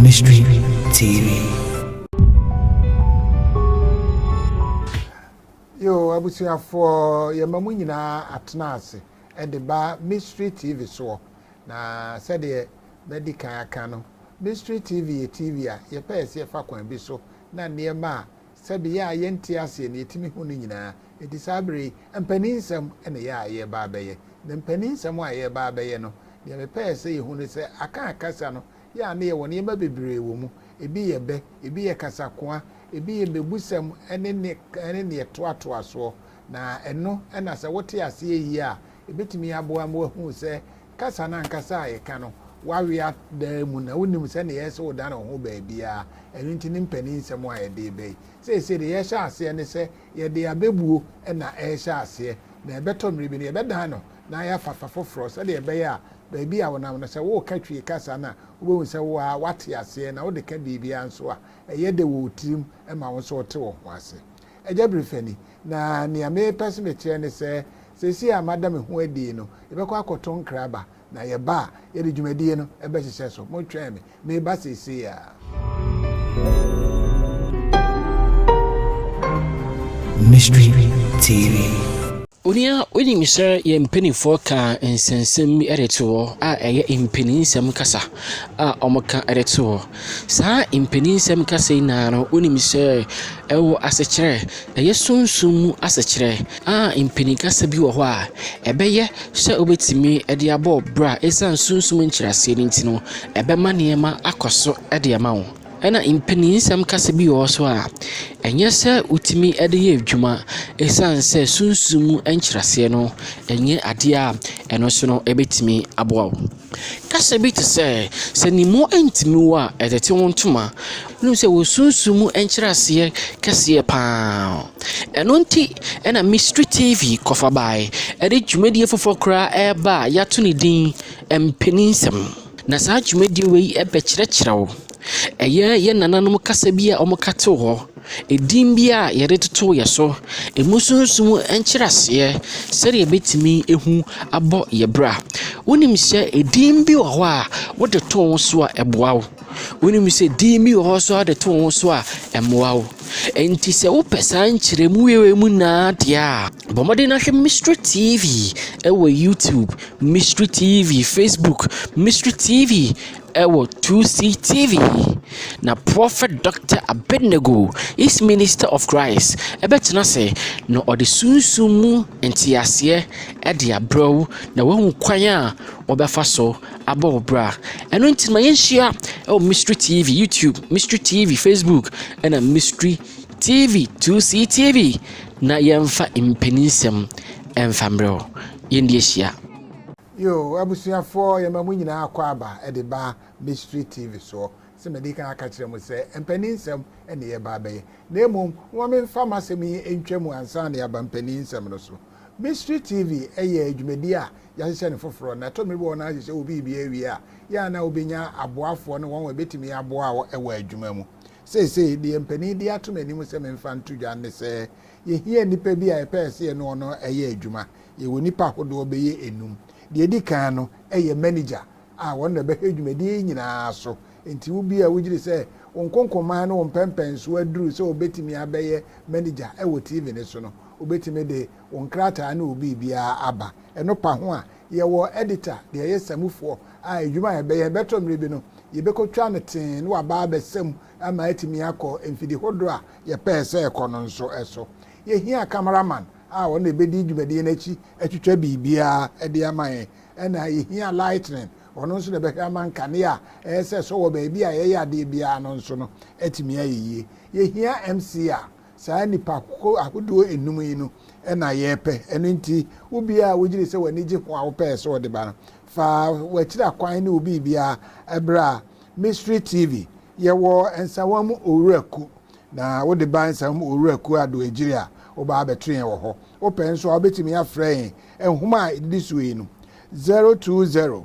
Mystery TV. Yo, abusuafoɔ yɛma mu nyinaa atena ase de ba Mystery TV soɔ na sɛdeɛ madi kan aka no Mystery TV yɛ TV a yɛpɛ yɛ sɛ yɛfa kwan bi so na nneɛma a Sɛdeɛ a yɛnte aseɛ no, yɛtumi hu no nyinaa. Enti saa berɛ yi, mpaninsɛm na ɛyɛ a yɛreba abɛyɛ. Na mpaninsɛm a yɛreba abɛyɛ no, deɛ mepɛɛ sɛ yɛhu ne sɛ, aka a kasa no yɛ a na yɛwɔ nneɛma bebree wɔ mu. Ebi yɛ bɛ, ebi yɛ kasakoa, ebi yɛ mmebusɛm ne ne ne deɛ ɛtoatoa soɔ. Na ɛno na sɛ wote aseɛ yie a, ɛbɛtumi aboa ma woahunu sɛ Kasa no ankasa a eka no w'awe adaa mu na wonim sɛnea ɛyɛ sɛ wodan wo ho baabiara, ɛno nti ne mpanin nsɛm a yɛde reba yi. Seesei deɛ yɛrehyɛ aseɛ ne sɛ yɛde abɛbuo na ɛrehyɛ aseɛ, na ɛbɛtɔ mmerɛ bi no yɛbɛdan no na ayɛ afafa foforɔ sɛdeɛ ɛbɛyɛ a baabi a wonam no sɛ woreka Twi kasa no a wobɛhu sɛ wo ara woate aseɛ na wode ka biribiara nso a ɛyɛ dɛ wɔ wo tirim ma wo nso wote wo ho ase. Agya Birifani, Na nea merepɛ sɛ mekyerɛ ne sɛ, seesei a mada me ho adi yi no, yɛbɛkɔ akɔto nkra aba, na yɛba a, yɛde dwumadie no bɛhyehyɛ so. Motwɛn me. Mereba seesei ara. Mystery TV. Onua, wunim sɛ yɛn mpanimfoɔ kaa nsɛnsɛm bi de to hɔ a ɛyɛ mpaninsɛm kasa a wɔka de to hɔ. Saa mpaninsɛm kasa yi nyinaa no, wunim sɛ ɛwɔ asekyerɛ, ɛyɛ sunsum mu asekyerɛ a mpanin kasa bi wɔ hɔ a, ɛbɛyɛ sɛ wobɛtumi de abɔ wo bra. Ɛsiane sunsum nkyerɛaseɛ no nti no, ɛbɛma nneɛma akɔ so de ama wo. Ɛna mpaninsɛm kasa bi wɔ hɔ so a, ɛnyɛ sɛ wotumi de yɛ adwuma ɛsiane sɛ sunsum mu nkyerɛaseɛ no ɛnyɛ adeɛ a ɛno nso no ɛbɛtumi aboa wo. Kasa bi te sɛ, sɛ ne mu ntumi wo a, ɛtete wo ntoma. Wonim sɛ wɔ sunsum mu nkyerɛaseɛ kɛseɛ pa ara. Ɛno nti ɛna Mystery TV kɔfa baeɛ ɛde dwumadie foforɔ koraa ɛreba a yɛato no din mpaninsɛm. Na saa dwumadie wei bɛkyerɛkyerɛ wo. Ɛyɛ yɛn nananom kasa bi a wɔka too hɔ, edin bi a yɛde totoo yɛn so, emu sunsum nkyerɛaseɛ, sɛdeɛ yɛbɛtumi ahu abɔ yɛn bra. Wonim sɛ edin bi wɔ hɔ a, wode to wo ho so a, ɛboa wo. Wonim sɛ edin bi wɔ hɔ nso a, wode to wo ho so a, ɛmmoa wo. Enti sɛ wopɛ saa nkyerɛmu wei mu nyinaa deɛ a, Bɔ mmɔden na hwɛ Mystery TV ɛwɔ YouTube, Mystery TV Facebook, Mystery TV ɛwɔ 2C TV. Na Prophet Dr. Abednego is Minister of Christ ɛbɛtena ase na ɔde sunsun mu nteaseɛ ɛde abrɛ wo na wahu kwan a wɔbɛfa so abɔ wo bra. Ɛno nti ma yɛnhyia ɛwɔ Mystery TV YouTube, Mystery TV Facebook ɛna Mystery TV two C TV na yɛmfa mpaninsɛm mfa mmerɛ hɔ. Yɛn de ahyia. Yoo abusuafoɔ yɛma mo nyinaa akɔ aba de ba Mystery TV soɔ. Sɛ madi kan aka kyerɛ mo sɛ mpaninsɛm na yɛba abɛyɛ. Na mmom momma memfa m'asɛm yi ntwa mu ansa na yɛaba mpaninsɛm no so. Mystery TV yɛ dwumadie a yɛahyehyɛ no foforɔ na ɛtɔ mmere bi wɔ hɔ no ahyehyɛ obi biribi awie a yɛ a na wobɛnya aboafoɔ ne wɔn a ɛbɛtumi aboa wɔ adwuma mu. Seesei, deɛ mpanin de ato m'anim sɛ memfa nto dwa ne sɛ, yɛhia nnipa bi a yɛpɛɛ sɛ yɛne wɔn yɛ adwuma. Yɛwɔ nnipa ahodoɔ bɛyɛ nnum. Deɛ ɛdi kan no yɛ manigya a ɔno na ɔbɛhwɛ dwumadie yi nyinaa so. Enti wo bi a wogye di sɛ wo nkonkoman ne wo mpɛmpɛnsoɔ aduru sɛ wobɛtumi abɛyɛ manigya wɔ TV no so no, wobɛtumi de wo nkrataa ne wo biribiara aba. Ɛno pa ho a, Yɛwɔ editor deɛ yɛ samufoɔ a adwuma a yɛbɛyɛ ɛbɛtɔ mmerɛ bi no yɛbɛkɔ twa no tee na waba abɛsa mu ama atumi akɔ mfidi hodoɔ a yɛpɛɛ sɛ ɛkɔ no nso so. Yɛhia camera man a ɔno na ɛbɛdi dwumadie no akyi atwitwa biribiara de ama yɛn ɛna yɛhia lightning ɔno nso na ɛbɛhwɛ ama nkanea a ɛyɛ sɛ ɛsɔ wɔ baabi a yɛyɛ adeɛ biara no nso no atumi ayɛ yie. Yɛhia MC a saa nnipa ahodoɔ nnum yi no na yɛpɛ, ɛno nti wo biara a wogyedi sɛ w'ani gye ho a wopɛɛ sɛ wode ba no, fa w'akyira kwan ne wo biribiara bra Mystery TV. Yɛwɔ Nsawam Owura Ku, na wode ba Nsawam Owura Ku Addo Agyiri a, woba abɛto yɛn wɔ hɔ. Wopɛ nso a, wobɛtumi afrɛ yɛn, nhoma a ɛdidi soɔ yi no, 020.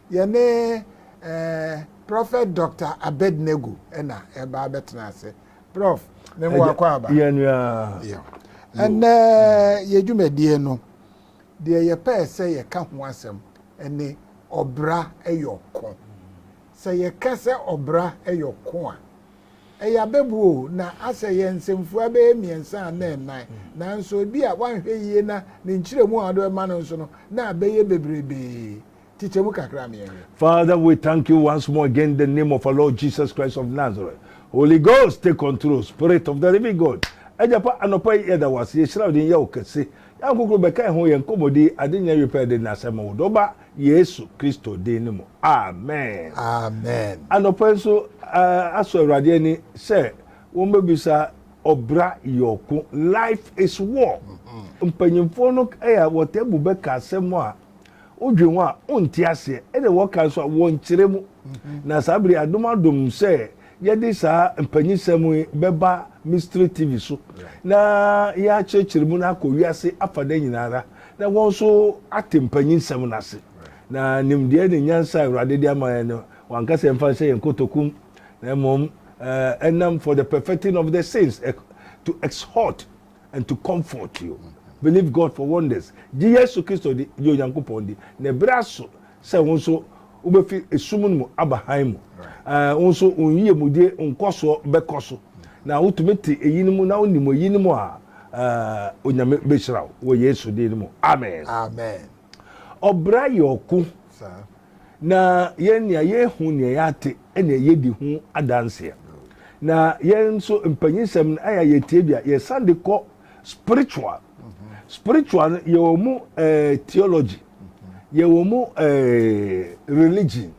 Yɛne eh, Prophet Doctor Abednego ɛna ɛba abɛtena ase. Prof, ne mmoa Ɛgya, kɔ aba. yɛn nua. Yo. Ɛnɛ yɛ dwumadie no, deɛ yɛpɛɛ sɛ yɛka ho asɛm ɛne ɔbra ɛyɔ ko. Sɛ yɛka sɛ ɔbra ɛyɔ ko a, ɛyɛ abɛbu o, na asɛ yɛ nsɛmfua bɛyɛ mmiɛnsa anaa nnan, nanso ebi a woanhwɛ yie na ne nkyerɛmu a wode bɛma no nso no, na abɛyɛ bebrebee. Kyekyɛ mu kakra ma yɛnhwɛ. Father, we thank you once more again in the name of our Lord Jesus Christ of Nazareth. Holy Ghost, take control. Spirit of the living God. Agya pa anɔpa yi yɛda wo ase yɛhyira wo din yɛ wo kɛse. Yɛn nkokoro bɛka ho yɛn nkɔmmɔdi ade nyɛ wie pɛ de na asɛm wo dɔ ba Yesu Kristo din no mu. Amen. Amen. Anɔpa nso uh, asɔ Awurade ani sɛ wɔbɛbisa ɔbra yɛ ɔko life is war. Mm-hmm. Mpanyinfoɔ no yɛ wɔtɛ bu bɛka asɛm a Wodwen ho a, wonte aseɛ, ɛna wɔka nso a, wɔnkyerɛ mu. Na saa bere adom adom sɛ yɛde saa mpanyisɛm yi bɛba Mystery TV so na yɛakyerɛkyerɛ mu na akɔ wiase afada nyinaa ara na wɔn nso ate mpanyisɛm no ase. Na nimdeɛ ne nyansa a Awurade de ama yɛn no, wanka sɛ yɛmfa nhyɛ yɛn kotokum, na mmom ɛnam for the perfecting of the saints, to exhort And to comfort you, believe God for wonders. Gye Yesu Kristo di, gye Onyankopɔn di, na ɛberɛ aso sɛ wo nso wobɛfi esum no mu aba hann mu. Ɛɛ, wo nso wo nyiemudie nkɔsoɔ bɛkɔ so. Na wotumi te eyinom na wonim eyinom a, ɛɛ, Onyame bɛhyira wo wɔ Yesu din no mu. Amen. Amen. Ɔbra yɛ ɔko. Na yɛn nea yɛhu nea yɛate ɛna yɛdi ho adanseɛ. Na yɛn nso mpanyinsɛm no ayɛ yɛtie bi a yɛsan de kɔ spiritual. Spiritual no yɛ wɔn mu eh, theology, yɛ wɔn mu eh, religion.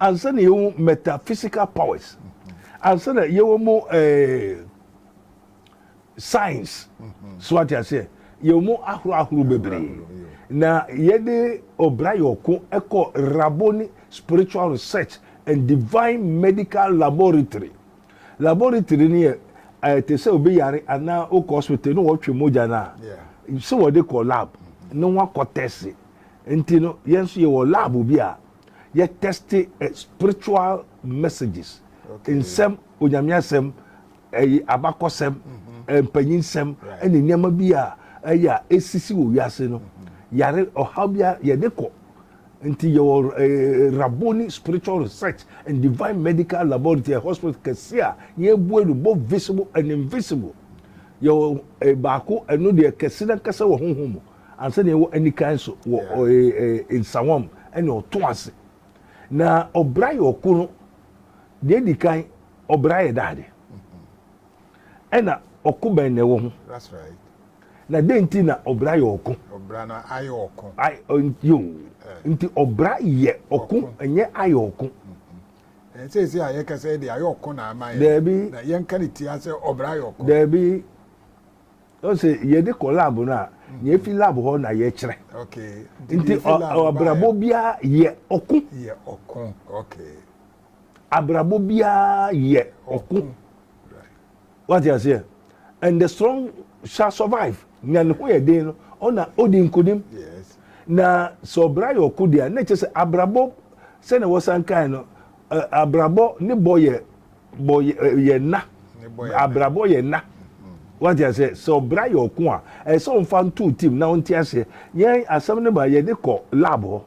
Ansa na yɛhu metaphysical powers. Ansa na yɛwɔ mu eh, Science, so wate aseɛ, yɛwɔ mu ahorow ahorow bebree. Na yɛde ɔbra yɔko kɔ Rabboni Spiritual Research and Divine Medical Laboratory. Laboratory no yɛ eh, te sɛ obi yare anaa wokɔ hospital na wɔtwe mogya no a, sɛ wɔde kɔ lab mm-hmm. na wɔakɔ tɛse. Nti no, yɛn nso yɛwɔ lab bi a yɛtɛste eh, spiritual messages, nsɛm, onyame asɛm, Ɛyɛ abakɔsɛm, mpanyinsɛm ne nneɛma bi a ɛyɛ a esisi wɔ wiase no. Yare, ɔhaw biara yɛde kɔ. Nti yɛwɔ Rabboni Spiritual Research and Divine Medical Laboratory, ɛyɛ hospital kɛse a yɛabue no, both visible and invisible. Yɛwɔ baako, ɛno deɛ kɛse no ankasa wɔ honhom mu, ansa na yɛwɔ anikan nso wɔ nsawam ne ɔtõ ase. Na ɔbra yɛ ɔko no. Deɛ di kan, ɔbra yɛ da ade. Ɛna ɔko bɛn na ɛwɔ ho? That's right. Na dɛn nti na ɔbra yɛ ɔko? Ɔbra no ayɛ ɔko. Ayɛ ɔ- yo. Eh. Nti ɔbra yɛ ɔko, Ɔko. ɛnyɛ ayɛ ɔko. Ɛn sɛ ɛsɛ a yɛka sɛ ɛde ayɛ ɔko na ama yɛ. Daabi. Na yɛnka ne tia sɛ ɔbra yɛ ɔko. Daabi. Ɔn sɛ yɛde kɔ lab no a, nea efi lab hɔ na yɛkyerɛ. Nti abrabɔ biara yɛ ɔko. Yɛ ɔko, okay. Abrabɔ biara yɛ ɔko. Wate aseɛ? And the strong shall survive. Nya ne ho yɛ den no, ɔna odi nkonim. Yes. Na sɛ ɔbra yɛ ɔko deɛ a, na kyerɛ sɛ abrabɔ sɛnea wɔsan kae no, abrabɔ ne bɔ yɛ bɔ yɛ nna abrabɔ yɛ nna wati ase sɛ ɔbra yɛ ɔko a ɛsɛ ɔnfa ntu tim na ɔnti ase yɛn asɛm ne ba yɛ de kɔ lab hɔ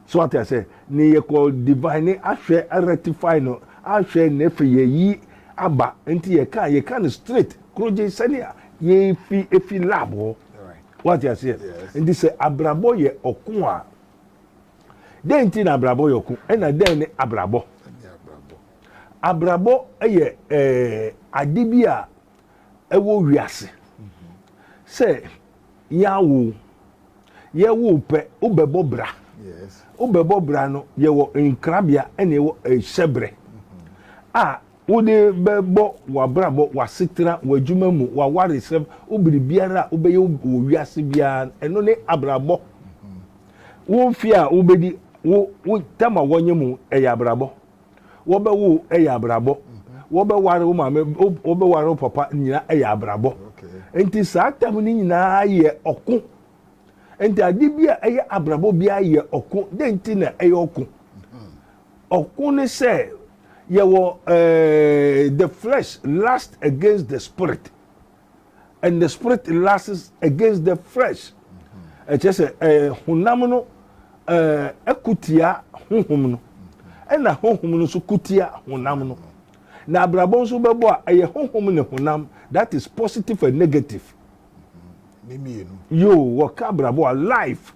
so wati ase ne yɛ kɔ divine ne ahwɛ rectify no ahwɛ ne fɛ yɛ yi aba nti yɛ kan yɛ kan straight kuro gye sɛnea yɛ fi efi lab hɔ wati ase nti sɛ abrabɔ yɛ ɔko a dɛn ti na abrabɔ yɛ ɔko ɛna dɛn ne abrabɔ. Abrabɔ yɛ ade bi a ɛwɔ wiase. Sɛ yɛawo o, yɛwo o pɛ, wobɛbɔ bra. Wobɛbɔ bra no, yɛwɔ nkrabea na yɛwɔ hyɛbrɛ a wode bɛbɔ w'abrabɔ, w'asetena, w'adwuma mu, w'awaresɛm, wo biribiara a wobɛyɛ wɔ wiase biara. Ɛno ne abrabɔ. Wo mfe a wobɛdi, wo wo tam a wɔnyem wo, ɛyɛ abrabɔ. wɔbɛwo yɛ abrabɔ wɔbɛware wo maame wɔbɛware wo papa nyina yɛ abrabɔ nti saa tam no nyinaa yɛ ɔko nti ade bi a ɛyɛ abrabɔ bi ayɛ ɔko dɛn nti na ɛyɛ ɔko ɔko ne sɛ yɛwɔ ɛɛ eh, the flesh last against the spirit and the spirit lasts against the flesh ɛkyɛ sɛ ɛɛ honam no ɛɛ ɛkutia honhom no ɛna honhom no nso kutia honam no na abrabɔ nso bɛbɔ a ɛyɛ honhom ne honam that is positive and negative yoo wɔka abrabɔ a life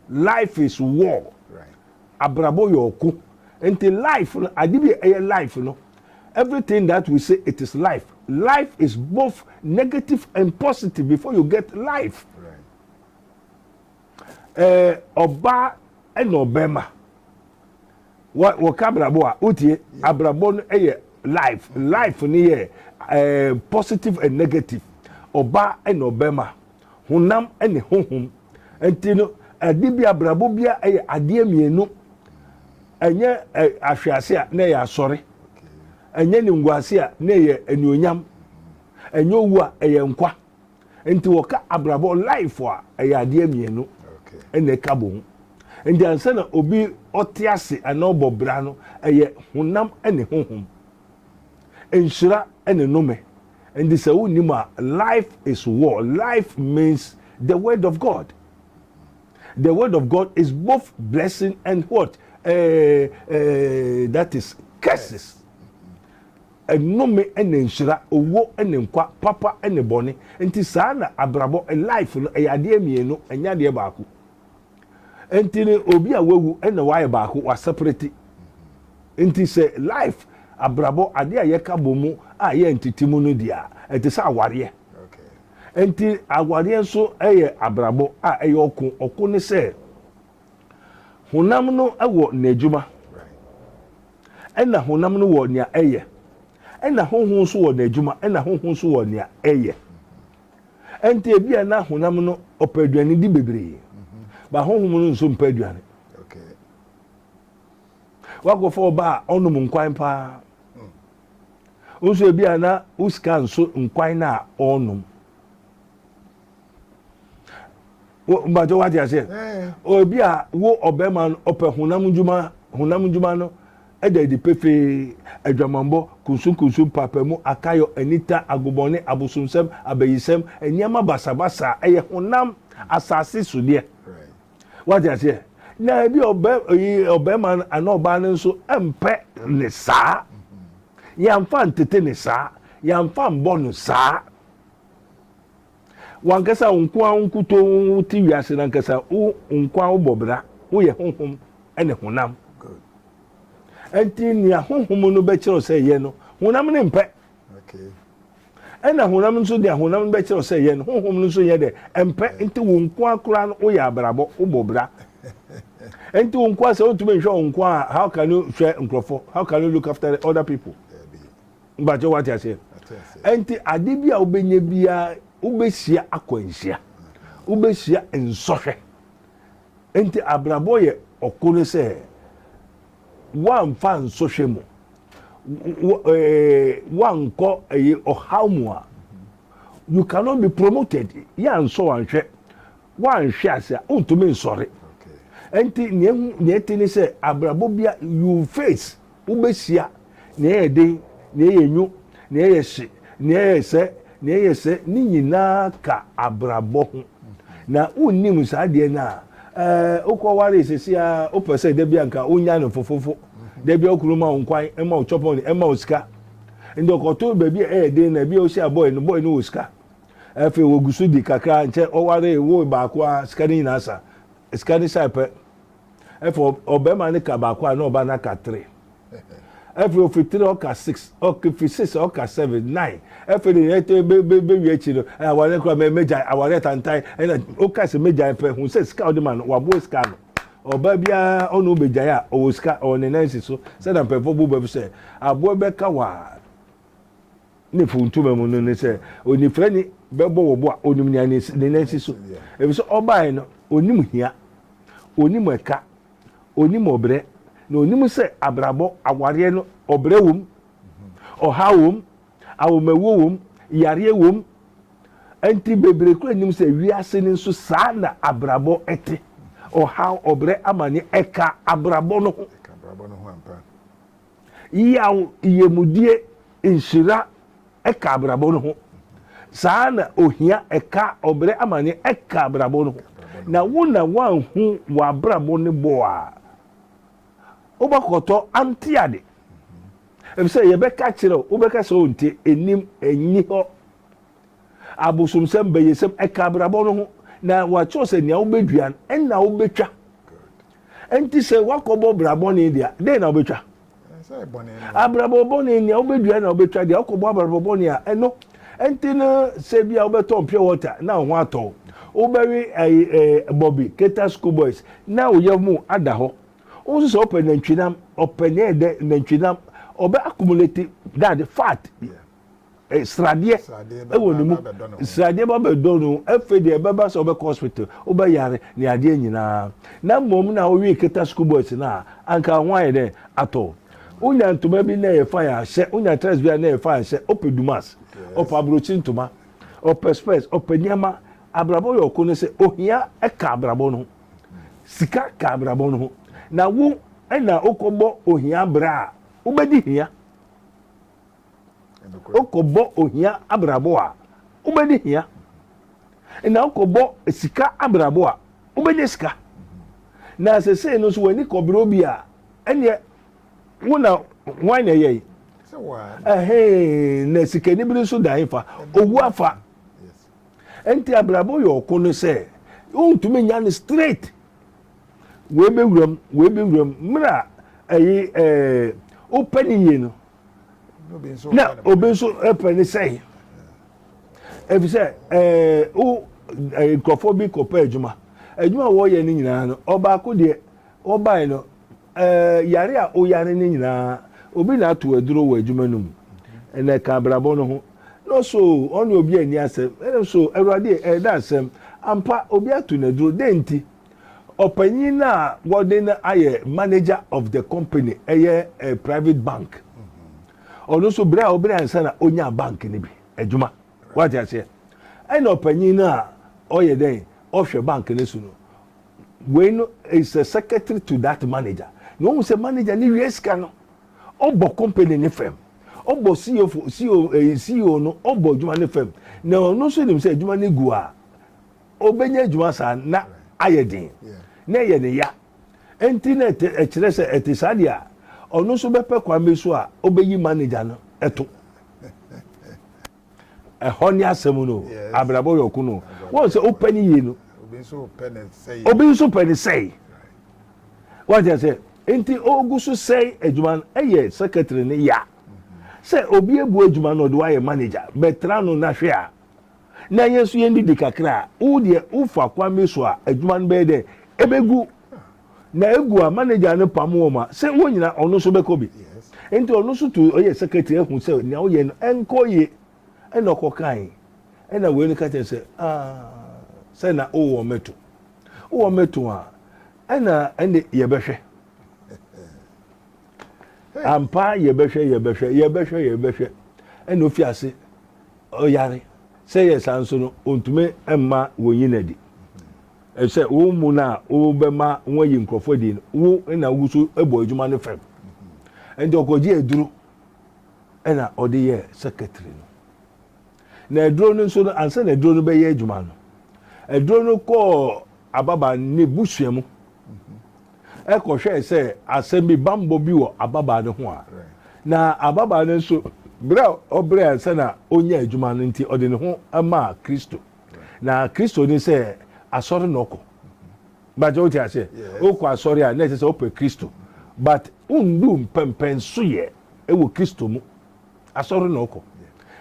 life is war Abrabɔ yɛ ɔko nti life no ade bi a ɛyɛ life no everything that we say it is life life is both negative and positive before you get life ɛɛ ɔbaa ɛna ɔbɛɛma wɔ wɔka abrabɔ a wotie abrabɔ no ɛyɛ life life no yɛ ɛɛ positive and negative ɔbaa ɛna ɔbɛɛma. honam ne honhom. Nti no, ɛde bi abrabɔ bi a ɛyɛ adeɛ mmienu. Ɛnyɛ ahwease a na ɛyɛ asɔre. Ɛnyɛ ne nguase a na ɛyɛ anuonyam. Ɛnyɛ owu a ɛyɛ nkwa. Nti wɔka abrabɔ life a ɛyɛ adeɛ mmienu na ɛka bɔ mu. Nti ansa na obi ɔte ase anaa ɔbɔ bra no, ɛyɛ honam ne honhom. Nhyira ne nnome. Ɛnde sɛ wonnim a, life is war. Life means the word of God. The word of God is both blessing and what? Uh, uh, that is curses. Ɛnome ɛna nhyira, owó ɛna nkwa, papa ɛna bɔne. Nti saa na abrabɔ, life no, ɛyɛ adeɛ mmienu, ɛnyɛ adeɛ baako. Nti no obi a wawu ɛna wayɛ baako waseperete. Nti sɛ life abrabɔ adeɛ a yɛka bɔ mu a yɛ ntete mu no deɛ a ɛte sɛ awareɛ. Nti awareɛ nso ɛyɛ abrabɔ a ɛyɛ ɔko. Ɔko ne sɛ honam no wɔ n'adwuma ɛna honam no wɔ nea ɛyɛ ɛna honhom nso wɔ n'adwuma ɛna honhom nso wɔ nea ɛyɛ. Ɛnti ebia na honam no ɔpɛ aduane di bebree, ba honhom no nso mpɛ aduane. Wakɔfa ɔba a ɔnom nkwan paa. Nso ebia na wo sika nso nkwan no a ɔnom. Mbàjọ́ wá ti àṣẹ. Ebia wo ɔbɛrima no ɔpɛ honam ndwuma honam ndwuma no Ɛda adi pefee, aguamammɔ, kunsunkunsun, mpaapaemu, akayɔ, anita, agobɔne, abosomsɛm, abayisɛm, nneɛma basabasa a ɛyɛ honam asase so deɛ. Wate aseɛ? Na ebi ɔbɛ oyi ɔbɛrima no anaa ɔbaa no nso mpɛ ne saa. Yɛnfa ntete ne saa. Yɛnfa mbɔ no saa. W'ankasa wo nko ara wo nkutoo wote wiase no ankasa, wo nko ara wobɔ bra, woyɛ honhom ne honam. Ɛnti nea honhom no bɛkyerɛw sɛ yɛ no, honam no mpɛ. Ɛna honam nso deɛ honam no bɛkyerɛw sɛ yɛ no, honhom no nso yɛ dɛ mpɛ. Nti wo nko ara koraa no woyɛ abrabɔ, wobɔ bra. Ɛnti wo nko ara sɛ wotumi nhwɛ wo nko ara, how can you hwɛ nkurɔfoɔ? How can you look after the other people? Mpakyɛ wate aseɛ? Ɛnti ade bi a wobɛnya biara wobɛhyia akwanhyia, wobɛhyia nsɔhwɛ. Ɛnti abrabɔ yɛ ɔko no sɛ woamfa nsɔhwɛ mu, woankɔ ɛyɛ ɔhaw mu a, you cannot be promoted. Yɛ ansɔ wanhwɛ, wanhwɛ ase a, wontumi nsɔre. Ɛnti nea ɛte ne sɛ abrabɔ bia you face, wobɛhyia nea ɛyɛ den, nea ɛyɛ nwu, nea ɛyɛ hye, nea ɛyɛ sɛ, nea ɛyɛ sɛ, ne nyinaa ka abrabɔ ho. Na wonnim saa adeɛ no a, ɛɛ, wokɔwaree sɛsi a, wopɛ sɛ da bi anka wonya no fofofo. Da bi a okunu ma wo nkwan, ɛma wo chɔpɔn, ɛma wo sika. Nti ɔkɔto baabi a ɛyɛ den na ebi a wohyia bɔɔy no, bɔɔy no wɔ sika. Afei wɔgu so di kakra, nkyɛ ɔwaree, woo baako a, sika no nyinaa sa. Sika ne hyɛe pɛ. Afei ɔ, ɔbarima no ka baako a, na ɔba no aka three. Afei ofi three ɔka six, ɔfi six ɔka seven, nine. Afei de yɛn tɛ be be bewie akyi no, ɛ aware kora mɛ mɛgyae, aware tantan. Ɛna ɔka sɛ mɛgyae pɛ, hu sɛ sika a ɔde ma no, waboa sika ano. Ɔbaa biara ɔne wo bɛgyae a, ɔwɔ sika, ɔwɔ ne nan si so. Sɛdeɛ mpanyinfoɔ bɔ bɛ sɛ, aboa bɛka wo a, ne fo ntoma mu no ne sɛ onifirani bɛbɔ wo bo a onim nea ne nan si so efisɛ ɔbaeɛ no onim hia onim ɛka onim ɔbrɛ na onim sɛ abrabɔ awareɛ no ɔbrɛ wom ɔhaw wom awomawuo wom yareɛ wom nti bebree kura nim sɛ wiase no nso saa na abrabɔ ɛte ɔhaw ɔbrɛ amane ɛka abrabɔ no ho Yaw yamudie nhyira ka abrabɔ no ho. Saa ara na ohia ka ɔbrɛ amaneɛ ka abrabɔ no ho. Na wo na woanhu w'abrabɔ no bɔ a, wobɛkɔtɔ ante ade. Efisɛ yɛbɛka akyerɛ wo, wobɛka sɛ wonte, ɛnim, ɛnni hɔ. Abosomsɛm, bayɛsɛm, ɛka abrabɔ no ho. Na wɔakyerɛw sɛ nea wobɛdua no, ɛnna wobɛtwa. Enti sɛ woakɔbɔ bra bɔne deɛ a, dɛn na wobɛtwa? Abrabɔ bɔne nea wobɛdua na wobɛtwa deɛ wokɔbɔ abrabɔ bɔne a ɛno nti no sɛ bi a wobɛtɔn pure water na wo ho atɔ wo wobɛwe bɔbi keta school boys na wo yɛ mu ada hɔ wo nso sɛ wopɛ nantwinam ɔpɛ ne ɛdɛ nantwinam ɔbɛ accumulate dade fat eh, sradeɛ wɔ ne mu sradeɛ ba bɛdɔ no afei deɛ ɛbɛba sɛ wobɛkɔ hospital wobɛyare ne adeɛ nyinaa na mmom na wowie keta school boys no a anka ho ayɛ dɛ atɔ wonya ntoma bi na ɛyɛ fan ahyɛ wonya tres bi a na ɛyɛ fan ahyɛ ɔpɛ dumas ɔpɛ aburokyi ntoma ɔpɛ spɛs ɔpɛ nneɛma abrabɔ yɛ ɔko no sɛ ohia ɛka abrabɔ no ho sika ka abrabɔ no ho na wo ɛna wokɔbɔ ohia berɛ a wobɛdi hia Wokɔbɔ ohia abrabɔ a, wobɛnya hia. Na wokɔbɔ sika abrabɔ a, wobɛnya sika. Na sesei no nso w'ani kɔbrɛ obi a, ɛneɛ wo na hwan na ɛyɛe? Ɛhee, na sikani bere nso da hefa? Owu afa. Nti abrabɔ yɛ ɔko no sɛ, wontumi nya no straight. Wei bɛwuram, wei bɛwuram. Mmerɛ a ɛyi ɛɛ wopɛ ne yie no, na obi nso pɛ ne sɛe ɛfiri sɛ ɛɛ wo nkurɔfoɔ bi kɔpɛ adwuma adwuma a wɔyɛ no nyinaa no ɔbaako deɛ ɔbae no ɛɛ yare a ɔyare no nyinaa obi na ato aduro wɔ adwuma no mu ɛna ɛka abrabɔ no ho na ɔso ɔne obi ani asɛm ɛna so awurade ɛda asɛm ampa obi ato n'aduro dɛn nti Ɔpanyin no a wɔde no ayɛ manager of the company ɛyɛ eh, private bank. Ɔno nso bere a ɔbere ansa na onyaa bank no bi adwuma. Wate aseɛ? Ɛna ɔpanyin no a ɔyɛ dɛn ɔhwɛ bank no so no wei no is a secretary to that manager. Na ohun sɛ manager no wie sika no ɔbɔ company ne fam. Ɔbɔ CEO fo CEO eh, CEO no ɔbɔ adwuma ne fam. Na ɔno nso nim sɛ adwuma no gu a Ɔbɛnya adwuma saa na ayɛ den, na ɛyɛ ne ya. Enti na ɛkyerɛ sɛ ɛte saa deɛ a, ɔno nso bɛpɛ kwan bi so a ɔbɛyi manager no to. Ɛhɔ ne asɛm no o, abrabɔ yɛ ɔko no. Wɔn sɛ wopɛ ne yie no, obi nso pɛ ne sɛe. Wɔn sɛ sɛ nti ɔgu so sɛe adwuma no, ɛyɛ secretary ne ya. Sɛ obi abu adwuma no ɔde wayɛ manager, bɛtra no na hwɛ a. na yɛn nso yɛndidi kakra a wo deɛ wofa kwan bi so a adwuma no bɛyɛ dɛ ɛbɛgu na ɛgu a manager no pam wɔn a sɛ wɔn nyina ɔno nso bɛkɔ bi nti ɔno nso tu ɔyɛ secretary ahu sɛ nea woyɛ no ɛnkɔ yie ɛna ɔkɔ kae ɛna wei no ka kyerɛ sɛ ah, sɛ na wowɔ mɛto wowɔ mɛto a ɛna ɛne yɛbɛhwɛ ampa yɛbɛhwɛ yɛbɛhwɛ yɛbɛhwɛ yɛbɛhwɛ ɛna ofi ase ɔyare. Sɛ ɛyɛ saa nso no, ontumi mma wonnye no adi. Efisɛ wo mmu no a wobɛma wɔayi nkurɔfo adi no, wo na wugu so bɔ adwuma no fam. Enti ɔkɔgyee aduru na ɔde yɛɛ secretary no. Na aduro no nso no, ansa na aduro no bɛyɛ adwuma no, aduro no kɔɔ ababaa no ne busua mu. kɔhwɛe sɛ asɛm bi bammɔ bi wɔ ababaa no ho a, na ababaa no nso bere a ɔbrɛ ansa na onya adwuma no nti ɔde ne ho maa Kristo. Na Kristo ne sɛ asɔre na ɔkɔ. Bàjẹ́ wote aseɛ? Wokɔ asɔre a na ɛsɛ sɛ wopɛ Kristo. But wondu mpɛmpɛnsoyɛ wɔ Kristo mu. Asɔre na ɔkɔ.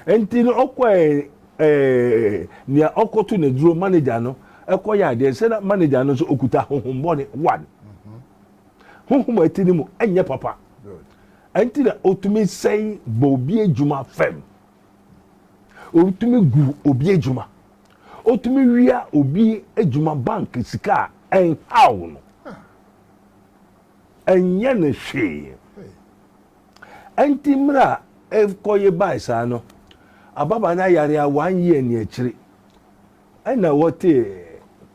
Nti no ɔkɔ ɛɛ eh, nea ɔkɔto ne duro manager no ɛkɔ yɛ adeɛ sɛ na manager no nso okuta honhom bɔne one mm-hmm. honhom a ɛte ne mu ɛnyɛ papa ɛnti na otumi sɛn bɔ obi adwuma fam otumi gu obi adwuma otumi wia obi adwuma bank sika a ɛnhaw no ɛnyɛ ne hwee. Ɛnti mmerɛ a ɛkɔ ye bae saa no, ababaa no ayare a one year ni akyiri ɛna wɔtee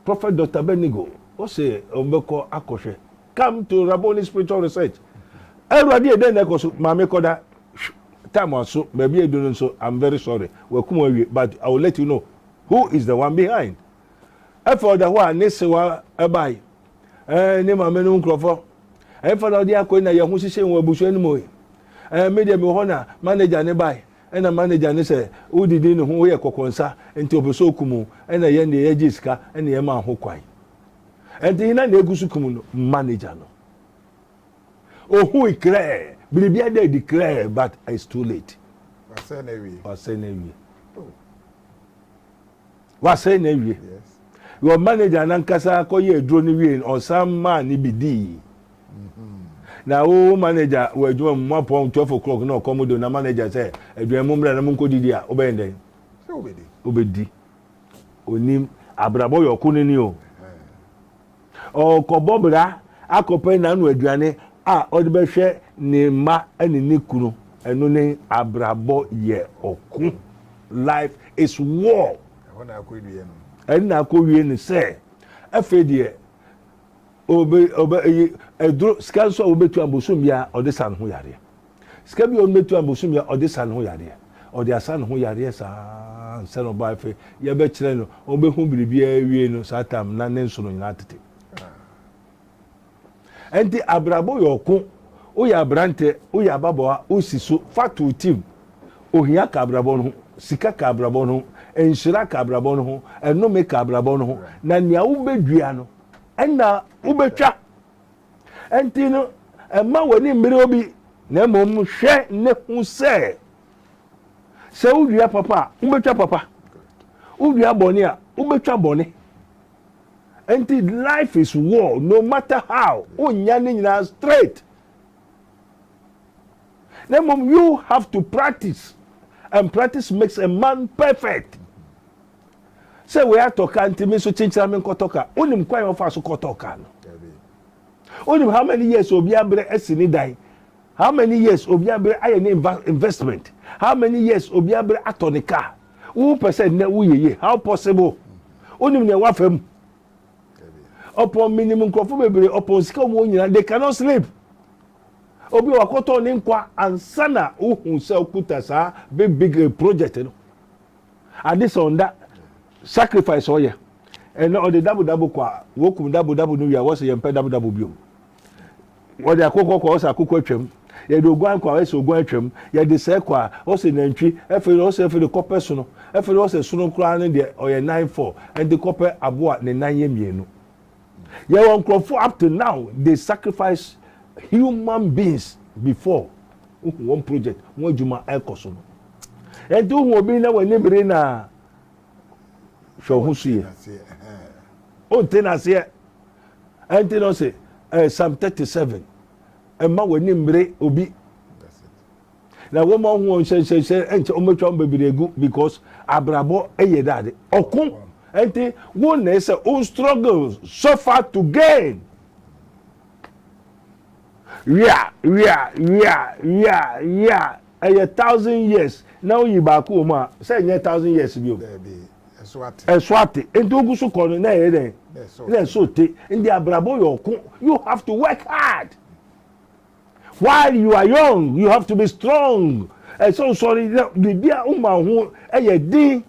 Prophet Doctor Benigo ose ɔbɛkɔ akɔhwɛ come to Rabboni Spiritual Research. Awurade ɛdɛn na ɛkɔ so? Maame kɔda time aso baabi a ɛdu no nso I'm very sorry wakum awie but I will let you know who is the one behind. Ɛfɔɔ da hɔ a ne sewa ɛbae. Ɛɛ ne maame no nkurɔfɔ. Ɛfa na ɔde akɔ yi na yɛn ho hyehyɛ wɔ abusua no mu yi. Ɛɛ me deɛ me wɔ hɔ na manager ne bae. Ɛna manager ne sɛ wodidi ne ho woyɛ kɔkɔnsa nti ɔpɛ sɛ okum wo. Ɛna yɛn deɛ yɛgyee sika ɛna yɛmaa ho kwan. Ɛnti hena na egu so kum no? Manager no. Ohui krɛɛ. Biribi ada adi krɛɛ but it's too late. Wasɛe n'awie. Wasɛe n'awie. Oh. wasɛe no awie your manager nankasa kɔyɛ aduro no wie no ɔsan maa ne bi dii mm-hmm. na wo manager wɔ adwuma mu moapɔn 12 o'clock na ɔkɔm do na manager sɛ aduan mu mmra na monkɔdidi a wobɛyɛ dɛn wobɛdi onim abrabɔ yɛ ɔko no ni o Ɔrekɔbɔ bra akɔpɛ n'ano aduane a ɔde bɛhwɛ ne mma ne ne kunu. Ɛno ne abrabɔ yɛ ɔko. Life is war. Ɛhɔ na akɔwie no. Ɛno na akɔwie no sɛ afei deɛ obe obe eyi eduro sika nso a obetua bosom biara ɔde sa ne ho yareɛ. Sika bi a ɔno bɛtua no bosome a ɔde sa ne ho yareɛ. Ɔde asa ne ho yareɛ saa ansa na ɔba afei yɛbɛkyerɛ no ɔbɛhu biribiara awie no saa tam na ne nsono nyinaa tete. Ɛnti abrabɔ yɛ ɔko woyɛ aberantɛ woyɛ ababɔa wosi so fa to tim ohia ka abrabɔ no ho sika ka abrabɔ no ho nhyira ka abrabɔ no ho ɛnome ka abrabɔ no ho na nea wobɛdua no ɛna wobɛtwa Enti no, mma w'ani mmere obi, na mmom hwɛ na hu sɛ, sɛ wodua papa a, wobɛtwa papa. Wodua bɔne a, wobɛtwa bɔne. Enti life is war, no matter how, wonnya ne nyinaa straight. Na mmom you have to practice, and practice makes a man perfect. sɛ wei atɔ ka nti me nso kyenkyena me nkɔtɔ ka. Wonim kwan a ɔfa so kɔtɔ ka no? Wonim how many years obi abrɛ asi ne dan? How many years obi abrɛ ayɛ ne investment? How many years obi abrɛ atɔ ne car? Wo pɛ sɛ nnɛ woyɛ yie? How possible? Wonim nea wafa mu? Ɔpɔn menim nkurɔfo bebree ɔpɔn sika wɔn wɔn nyinaa they cannot sleep. Obi a wakɔtɔ ne nkwa ansa na wohu sɛ okuta saa big big eh, project no. Ade sɛ ɔnda sacrifice a ɔyɛ ɛnɛ ɔde dabo dabo kɔ a wɔkum dabo dabo no wie a wɔsɛ yɛmpɛ dabo dabo biom wɔde akokɔ kɔ ɔsɛ akokɔ atwam yɛde oguan kɔ a ɛsɛ oguan atwam yɛde sɛ kɔ a ɔsɛ nantwi ɛfɛ ɔsɛ ɛfɛ de kɔpɛ sono ɛfɛ ɔsɛ sono koraa ne deɛ ɔyɛ nine four ɛde kɔpɛ aboa ne nan yɛ mmienu Yɛwɔ nkurɔfoɔ up to now they sacrifice human beings before wohu wɔn project wɔn adwuma ɛkɔ so no ɛnti wohu obi na w'ani bere na hwɛ wo ho so yie wonte n'aseɛ ɛnti no se eh, psalm 37 ɛma w'ani mmere obi Na wɔn a wɔn hyɛnhyɛnhyɛ nkyɛ wɔn atwa wɔn bebree agu because abrabɔ yɛ dɛ ade ɔko nti wɔn na ɛsɛ wɔn struggle suffer to gain wia wia wia wia wia ɛyɛ thousand years na wɔyi baako wɔn a sɛ ɛnyɛ thousand years bi o ɛso ate nti ogu so kɔ no na ɛyɛ dɛ na ɛso te nti abrabɔ yɛ ɔko you have to work hard. While you are young, you have to be strong. Ɛsɛ ɔsɔre na biribi a woma ho yɛ den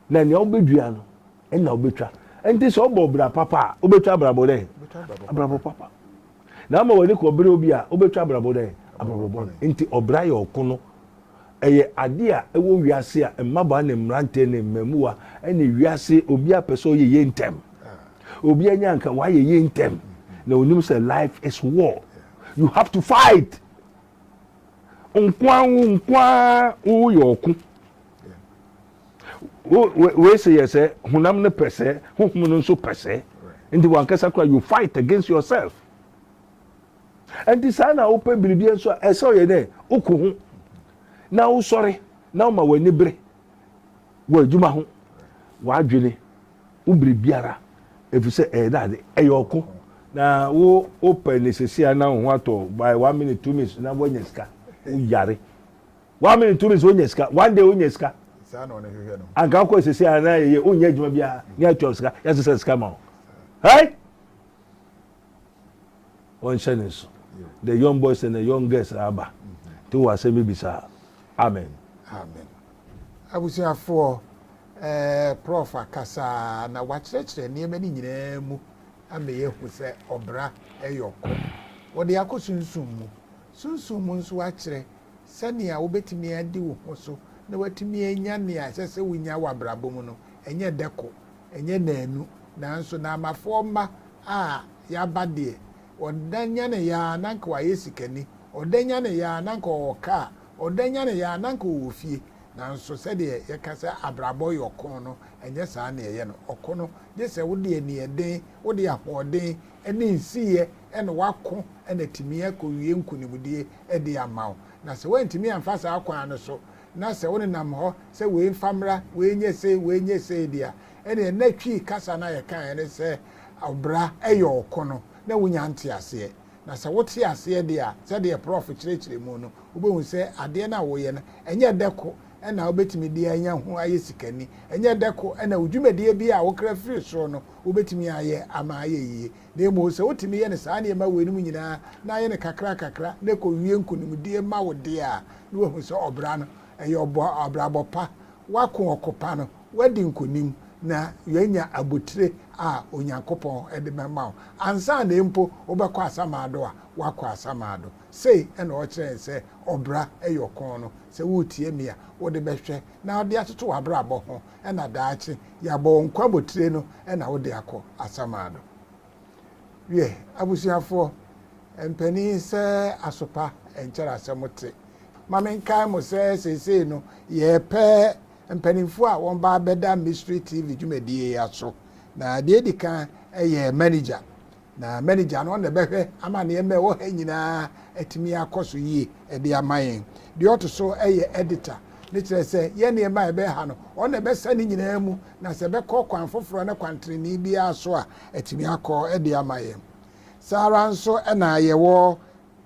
na nea wobɛdua no ɛna wobɛtwa. Ɛnti sɛ wobɔ bra papa a, wobɛtwa abrabɔ dɛn? Abrabɔ papa. Na ama w'ani kɔbere obi a, wobɛtwa abrabɔ dɛn? Abrabɔ bɔne. Nti ɔbra yɛ ɔko no Ɛyɛ ade a ɛwɔ wiase a mmabaa ne mmerante ne mmamua ne wiase obiara pɛ sɛ ɔyɛ yie ntɛm. Obiara nya nka wayɛ yie ntɛm na onim sɛ life is war. You have to fight. Nkoa wo nkoaa woyɛ ɔko. Wei sɛ yɛ sɛ honam no pɛ sɛ, honhom no nso pɛ sɛ. Nti wankasa kora you fight against yourself. Ɛnti saa na wopɛ biribiara nso a, ɛsɛ ɔyɛ dɛ, woko ho, na wosɔre, na woma w'ani bere wɔ adwuma ho, w'adwene, wo biribiara, efisɛ ɛyɛ dade, ɛyɛ ɔko. Na wo wopɛ ne sesei a na wo ho atɔ wo, by one minute, two minutes na woanya sika, wo yare, one minute, two minutes wonya sika, one day wonya sika, anka wokɔ sesei a na yɛyɛ, wonyɛ adwuma biara, na yɛatua wo sika, yɛasesa sika ma wo. Hey! wɔnhyɛ ne nso the young boys and the young girls aba nti wɔ asɛm bi bisa amen. amen abusuafoɔ eh, prof akasaa na wakyerɛkyerɛ nneɛma no nyinaa mu ama yɛhu sɛ ɔbra ɛyɛ ɔkɔ wɔde akɔ sunsum mu sunsum mu nso akyerɛ sɛnea wobɛtumi adi wo ho so na watumi anya nea ɛsɛ sɛ wonya wɔ abrabɔ mu no ɛnyɛ dɛko Ɛnyɛ nnaanu, nanso Naamafoɔ mma a yɛaba deɛ, ɔda nyaneeɛ ara na anka wayɛ sikani, ɔda nyaneeɛ ara na anka ɔwɔ kaa, ɔda nyaneeɛ ara na anka ɔwɔ fie. Nanso sɛdeɛ yɛka sɛ abrabɔ yɛ ɔko no, ɛnyɛ saa na ɛyɛ no. Ɔko no, gye sɛ wode aniɛden, wode ahoɔden ne nsiyɛ na woako na atumi akɔwie nkonimdie de ama wo. Na sɛ woantumi amfa saa kwan no so na sɛ wonenam hɔ sɛ wei mfa mmra, wei nyɛ sei, wei nyɛ sei de a, ɛnneɛ na Twi kasa no a yɛkaeɛ ne sɛ ɔbra yɛ ɔko no, na wonnya nteaseɛ. Na sɛ wote aseɛ deɛ a, sɛdeɛ Prɔf kyerɛkyerɛ mu no, wobɛhu sɛ adeɛ no a woyɛ no, ɛnyɛ dɛ ko na wobɛtumi de anya ho ayɛ sikani, ɛnyɛ dɛ ko na wo dwumadie biara a wokra firi soro no, wobɛtumi ayɛ ama ayɛ yie. Na mmom sɛ wotumi yɛ no saa nneɛma weinom nyinaa na ayɛ no kakrakakra na ɛkɔwie nkonimdie ma wo deɛ a, na woahu sɛ ɔbra no, ɛyɛ ɔbɔ abrabɔ pa, woako ɔko pa no, woadi nkonim, na woanya abotire a Onyankopɔn de bɛma wo. Ansa na mpo wobɛkɔ asamando a, woakɔ asamando. Sei na ɔkyerɛ yɛn sɛ ɔbra yɛ ɔko no. Sɛ woretie me a, wode bɛhwɛ na wode atoto w'abrabɔ ho na daakye yɛabɔ wo nkwa botire no na wode akɔ asamado. Wiɛ, abusuafoɔ, mpanin sɛ asopa nkyɛrɛ asɛm te. Ma menkae mo sɛ seesei no yɛrepɛ mpanimfoɔ a wɔn ba abɛda Mystery TV dwumadie yi aso. Na deɛ ɛdi kan yɛ manager na manager no na ɛbɛhwɛ ama nneɛma a ɛwɔ ha nyinaa atumi akɔ so yie ɛde ama yɛn deɛ ɔto so ɛyɛ editor ne kyerɛ sɛ yɛn nneɛma a ɛbɛn ha no ɔno na ɛbɛsa ne nyinaa mu na sɛ ɛbɛkɔ kwan foforɔ ne kwan tenenee biara so a atumi akɔ ɛde ama yɛn saa ara nso ɛna yɛwɔ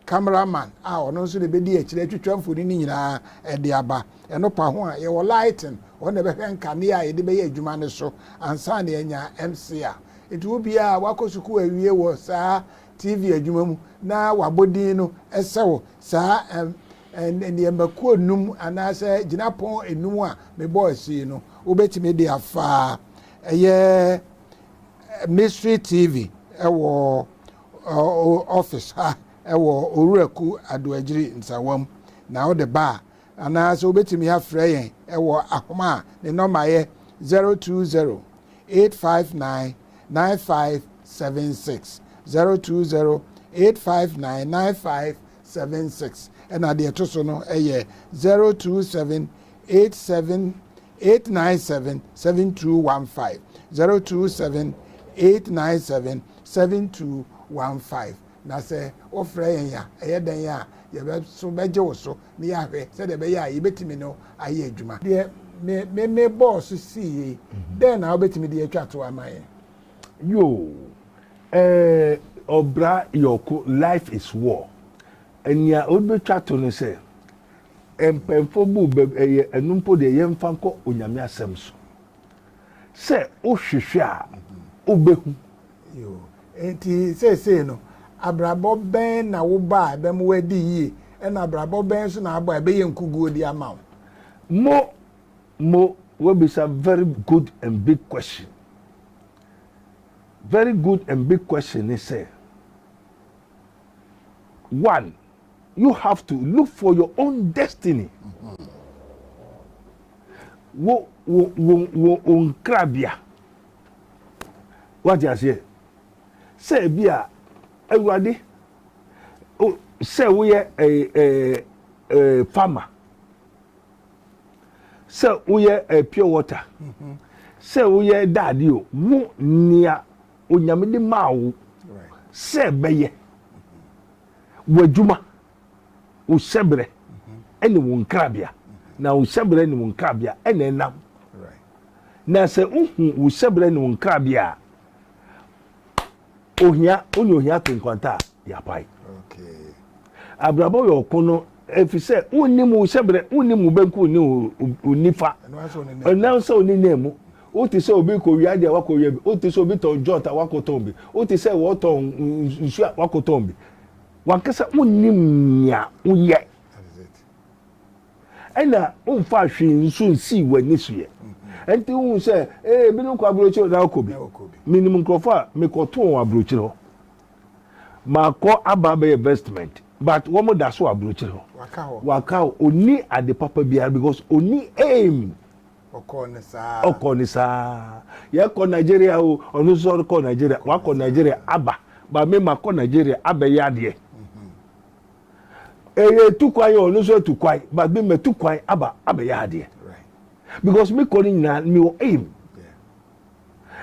camera man a ɔno nso na ɛbɛdi akyire atwitwa mfoni no nyinaa ɛde aba ɛno pa ho a yɛwɔ lighting wɔn na ɛbɛhwɛ nkanea a yɛde bɛyɛ adwuma no so ansa na yɛanya MC a nti wo bia a wakɔ sukuu awie wɔ saa TV adwuma mu na wabɔ din no ɛsɛ wo saa nneɛma kuo nnum anaasɛ gyinapɔn nnum a mebɔ asii no wobɛtumi de afa ɛyɛ Mystery TV ɛwɔ Ɔwɔ office ha wɔ Owura Ku Addo Agyiri Nsawa mu na wode ba a, anaa sɛ wobɛtumi afrɛ yɛn wɔ ahoma a ne nɔma yɛ 0208599576, 0208599576, ɛna deɛ ɛto so no yɛ 027878977215, 027897 Seven two one five na sɛ wo frɛ yɛn a ɛyɛ dɛn a yɛbɛ so bɛgye wo so na yɛahwɛ sɛdeɛ ɛbɛyɛ a yɛbɛtumi ne wo ayɛ adwuma. Deɛ me me me bɔɔ so sii yɛ yi, dɛn na wobɛtumi de atwa to ama yɛn? Yoo eh ɔbra yɔko life is war nea wode bɛtwa to ne sɛ mpɛnfoɔ bu bɛ ɛyɛ ɛno mpo deɛ yɛmfa nkɔ onyame asɛm so. sɛ wohwehwɛ a wobɛhu. Nti seesei no, abrabɔ bɛn na wobɔ a ɛbɛma woadi yie, ɛnna abrabɔ bɛn nso na abɔ a ɛbɛyɛ nkuguo de ama wo? Mo, mo, woabisa very good and big question. Very good and big question ne sɛ, one, You have to look for your own destiny. Wo wo wo wo wo nkrabea. Wate aseɛ sɛ ebi a awurade sɛ woyɛ ɛɛ ɛɛ ɛɛ farmer sɛ woyɛ ɛɛ pure water sɛ woyɛ daade o wo nea onyame de maa wo sɛ bɛyɛ. Wo adwuma, wo hyɛberɛ ne wo nkrabea. Na wo hyɛberɛ ne wo nkrabea na ɛnam. Na sɛ wohu wo hyɛberɛ ne wo nkrabea a, ohia, wo ne ohia to nkwanta a, yɛapae. Abrabɔ yɛ ɔko no ɛfiri sɛ wonnim wo hyɛberɛ, wonnim wo benkum ne wo nifa, ɛnam sɛ wo ne nan mu. Wote sɛ obi rekɔwia adeɛ a wakɔwia bi. Wote sɛ obi tɔn jot a wakɔtɔn bi. Wote sɛ wɔretɔn nsuo a wakɔtɔn bi. W'ankasa wonnim nea woyɛ. Ɛna womfaa hwee nso nsii w'ani so yɛ. Ɛnti wohu sɛ ee ebinom kɔ aburokyire na wokɔ bi. Menim nkurɔfoɔ a mekɔtoo wɔn aburokyire hɔ. Makɔ aba abɛyɛ investment but wɔn da so wɔ aburokyire hɔ. Waka hɔ. Ɔnni ade papa biara because ɔnni aim. ɔkɔɔ ne saa ɔkɔɔ ne saa yɛkɔ nigeria o ɔno nso ɔkɔɔ nigeria wakɔ nigeria aba ba me ma kɔ nigeria abɛyɛ adeɛ ɛyɛ etu kwan yɛ ɔno nso etu kwan ba me ma etu kwan aba abɛyɛ adeɛ because me kɔ ne nyinaa me wɔ aim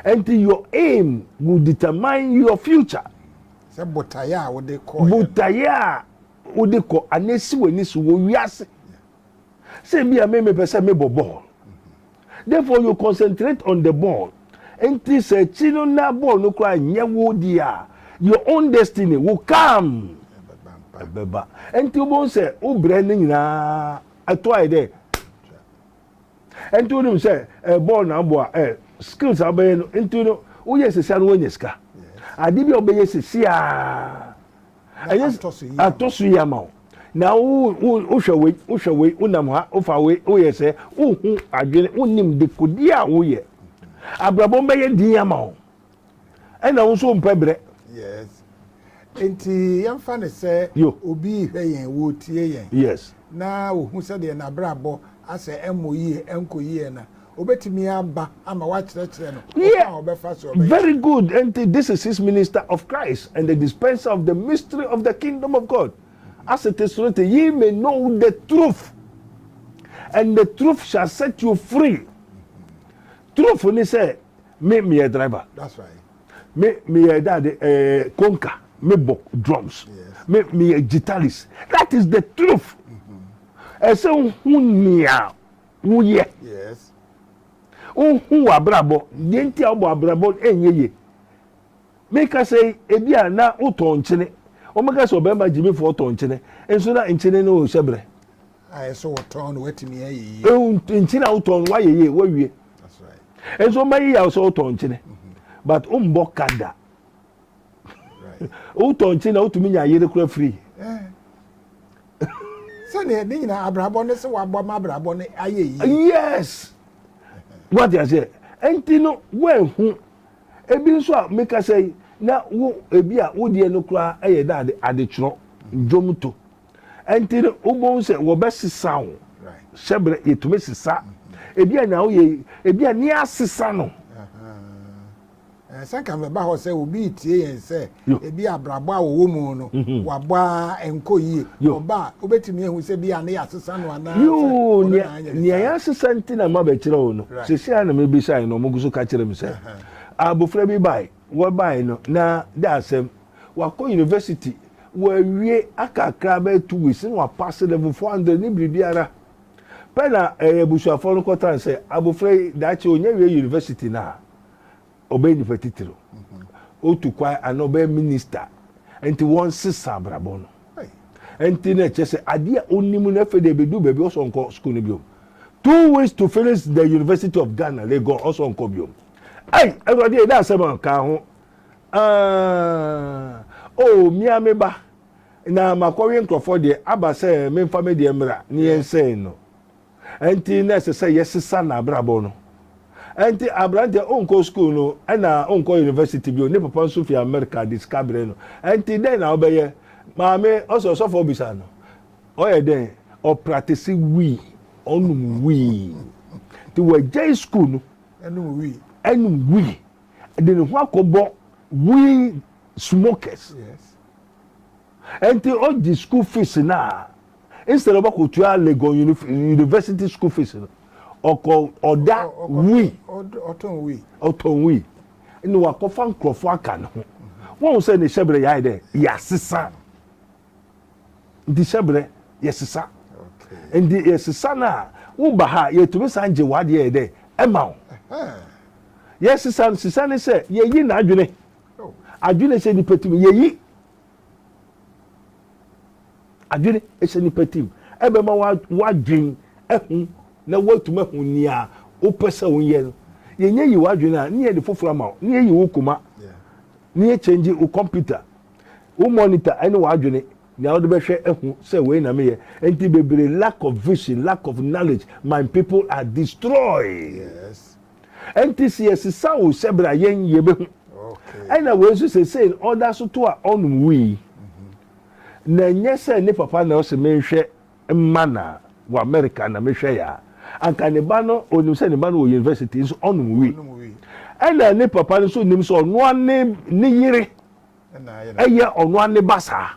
nti your aim will determine your future. sɛ botaeɛ a wode kɔ botaeɛ a wode kɔ anaa si w'ani so wɔ wiase Sɛ ebia me mepɛ sɛ mebɔ bɔɔl. Therefore you concentrate on the ball. Nti sɛ akyi no na bɔɔl no koraa nyɛ wo deɛ a, your own destiny will come. Ɛbɛba. Nti wobɛhu sɛ wo brɛ no nyinaa ɛto ayɛ dɛ. Nti wonim sɛ eh, bɔɔl na abɔ a eh, skills a wobɛyɛ no nti no woyɛ sɛsi a no woanya sika. Ade bi a wobɛyɛ sɛsi a na atɔ so yie atɔ so yie ama wo na wohwɛ wei wohwɛ wei wonam ha wofa wei woyɛ sɛ wohu adwene wonim dekodi a woyɛ abrabɔ bɛyɛ din ama wo ɛna wo nso mpɛ brɛ yes nti yɛmfa ne sɛ obi hwɛ yɛn wɔtie yɛn yes na wɔhu sɛdeɛ n'abrabɔ asɛ ɛmmɔ yie ɛnkɔ yie na Obetumi aba ama woakyerɛkyerɛ no ɔkwan a ɔbɛfa so ɔbɛyɛ. Very good enti this is his minister of Christ and the dispenser of the mystery of the kingdom of God asete soro te ye may know the truth and the truth shall set you free truth ne sɛ me meyɛ driver that's right me meyɛ dade ɛɛ eh, konka me bɔ drums yes. me meyɛ guitarist that is the truth ɛsɛ mm -hmm. hu nea Wo yɛ. Yes. Wo hu wɔ abrabɔ. Deɛ nti a wobɔ abrabɔ ɛnyɛ ye. Me ka sɛ ebi a na wo tɔ nkyene. Wɔn ka sɛ ɔbɛrima gyimi fɔ ɔtɔ nkyene. Nso na nkyene no hyɛ brɛ. A yɛ sɛ wɔtɔn no watumi ayɛ yie. Ehu nkyene a wotɔn no wayɛ yie wawie. That's right. Nso ɔbɛyɛ yɛ a sɛ wotɔ nkyene. Mm-hmm. But wombɔ ka da. wotɔ nkye na wotumi nya yere kora firi sɛdeɛ ne nyina abrabɔ ne sɛ wabɔ ma abrabɔ no ayɛ yie yes wate aseɛ ɛnti no woanhu ebi nso a mekasa yi na wo ebi a wodeɛ no koraa ɛyɛ dɛ ade adetwerɛ dwom to ɛnti no wobɛhu sɛ wɔbɛsesa wo hyɛ berɛ yɛtumi sesa ebi a na woyɛ ebi a ne asesa no Eh, sɛ nka mɛba hɔ sɛ obi retie yɛn sɛ ebi abrabɔ a wɔwɔ mu no mhm. wabɔ a nkɔ yie ɔba a wobɛtumi ahu sɛ bi a ne yɛasesa no anaasɛ nea yɛasesa nti na ma bɛkyerɛ wo no sɛsi a na mebisae no ɔmogu so ka kyerɛ me sɛ abofra bi bae wɔbae no na de asɛm wakɔ university wɔawie akakra bɛyɛ two weeks na wapase level four hundred ne biribiara pɛ na ɛyɛ eh, abusuafoɔ no kɔtan sɛ abofra yi daakye ɔnya wie university no a ɔbɛyɛ nipa titiriw otu kwan anaa ɔbɛyɛ minista nti wɔnsesa abrabɔ no nti na ɛkyɛ sɛ adeɛ a ɔnim no afei de ɛbɛdu baabi ɔsɔ nkɔ sukuu no biom two weeks to finish the university of ghana lagos ɔsɔ nkɔ biom ɛy awurade yɛ dɛ asɛm a kaa ho ah, oh mmea me ba na makɔwe nkurɔfoɔ deɛ aba sɛ memfa me deɛ mmra ne yɛnsɛn no Ɛnti na ɛsɛ sɛ yɛsesa n'abrabɔ no. Ɛnti aberanteɛ wonkɔ sukuu no ɛna wonkɔ university bio, ne papa nso fi America de sika brɛ no, ɛnti dɛn na wobɛyɛ? Maame, ɔsɛ ɔsɔfoɔ bisa no. Ɔyɛ dɛn? Ɔpratese wii, ɔnom wii. Nti wagyae sukuu no anom wii, de ne ho akɔbɔ wii smokers. Enti ogye school fees no a instead of ɔbɛkɔtua Legon university school fees no, ɔkɔ ɔda wii, ɔtɔn wii, ɔtɔn wii, na wakɔfa nkurɔfoɔ aka ne ho. Wɔn sɛ ne hyɛbrɛ yɛayɛ dɛ yɛasesa, nti hyɛbrɛ yɛsesa, nti yɛsesa no a woba ha yɛtumi san gye w'adeɛ yɛ dɛ ɛma wo. Yɛsesa sesa ne sɛ yɛyi n'adwene, adwene sɛ nipa tumi yɛyi. Adwene hyɛ nipa tim. Ɛbɛma w'adwene ahu na woatumi ahu nea wopɛ sɛ wonyɛ no. Yɛnyɛ yi w'adwene a, ne yɛde foforɔ ama wo, ne yɛyi wo koma, ne yɛkyɛngye wo kɔmputa, wo mɔnita ne w'adwene, nea wode bɛhwɛ ahu sɛ wei na meyɛ. Nti bebree lack of vision, lack of knowledge, my people are destroyed. Yes. ɛnti sɛ yɛsesa wo sɛ bra yɛn yɛbɛhu ɛna wei nso sesei no ɔda so to a ɔnom wii mm-hmm. na ɛnyɛ sɛ ne papa na ɔsɛ menhwɛ mma na wɔ America na mehwɛ yɛ a anka ne ba no ɔnim sɛ ne ba no wɔ university nso ɔnom wii ɛna ne papa no nso nim sɛ ɔnoa ne ne yere ɛyɛ ɔnoa ne ba saa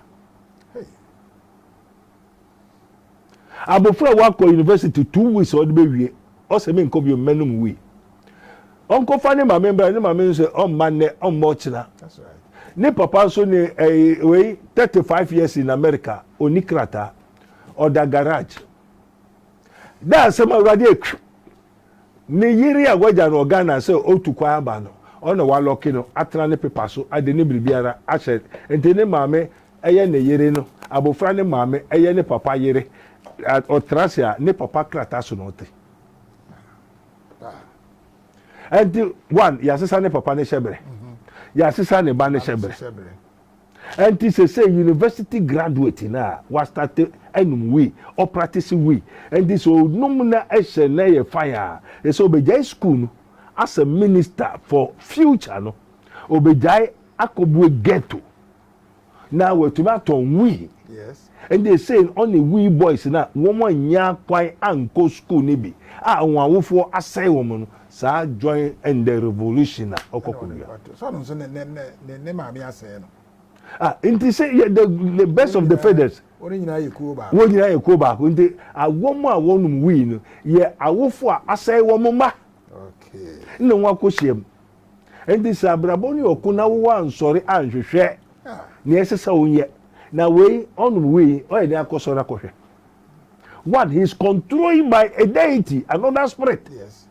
Abofra a wakɔ university two weeks a ɔde bewie, ɔse menkɔ bio, mɛnom wii. Ɔnkɔfa ne maame mbra, ne maame nso ɛ, ɔmma nnɛ, ɔmma ɔkyena. Ne papa nso ne ɛ, wei, thirty five years in America, ɔnni krataa. Ɔda garage. Dɛ asɛm a Awurade ɛ, kpw! Ne yere a wagya no wɔ Ghana sɛ otu kwan aba no, ɔno na wɔalɔke no atena ne pepa so, ade ne biribiara ahyɛ nti ne maame yɛ ne yere no, abofra no maame yɛ ne papa yere, ɔtra ase a, ne papa krataa so na ɔte. Enti, one, yɛasesa ne papa ne hyɛberɛ, yɛasesa ne ba ne hyɛberɛ. Ɛnti sesei university graduate no a wa start ɛnum wii ɔ practice wii ɛnti sɛ ɔnum na ɛhyɛ na ɛyɛ fine a ɛsɛ ɔbɛgyae school no asɛ minister for future no ɔbɛgyae akɔbue ghetto na watumi atɔn wii Ɛnde sei na ɔne Wii Boys no a wɔannya kwan ankɔ sukuu no bi a wɔn awofoɔ asɛe wɔn no saa join in the revolution a ɔkɔ kɔwia. Sɛ ɔno nso ne ne maame asɛe no. Ah, nti sɛ yɛ the the best of the feathers. Wɔn nyinaa yɛ kuo baako. Wɔn nyinaa yɛ kuo baako nti awɔm a wɔnom wii no yɛ awofo a asɛe wɔn mma. Okay. Na wɔn akɔhyia mu. Enti sɛ abrabɔ no yɛ ɔko na wo woansɔre anhwehwɛ nea ɛsɛ sɛ wonyɛ, na wei ɔnom wei, ɔyɛ dɛn akɔsɔre akɔhwɛ? One, he is controlled by a deity, another spirit. Yes.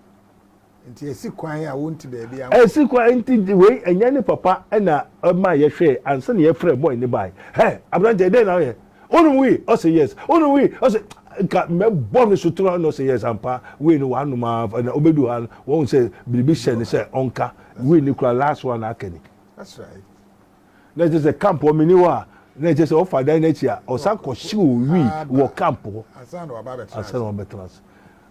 Nti ɛsi kwan a wonti baabi ankɔ. Ɛsi kwan nti wei ɛnyɛ ne papa ɛna ɛma yɛhwɛɛ ansa na yɛfrɛ bɔɔl ne bae. Hɛ aberante ɛdɛn na woyɛ? Wonim wii? Ɔse yes. Wonim wii? Ɔse nka mɛbɔ no sotere ɔne ɔse yes ampa wii no wanom ara na ɔbɛdu ha no wahu sɛ biribi hyɛ ne sɛ ɔnka wii no kura last one aka ni. That's right. Na ɛkyɛ sɛ camp hɔ meni hɔ a na ɛkyɛ sɛ ɔfa dan n'akyi a ɔsan kɔhyew wii wɔ camp hɔ ansa na wabɛtena ase.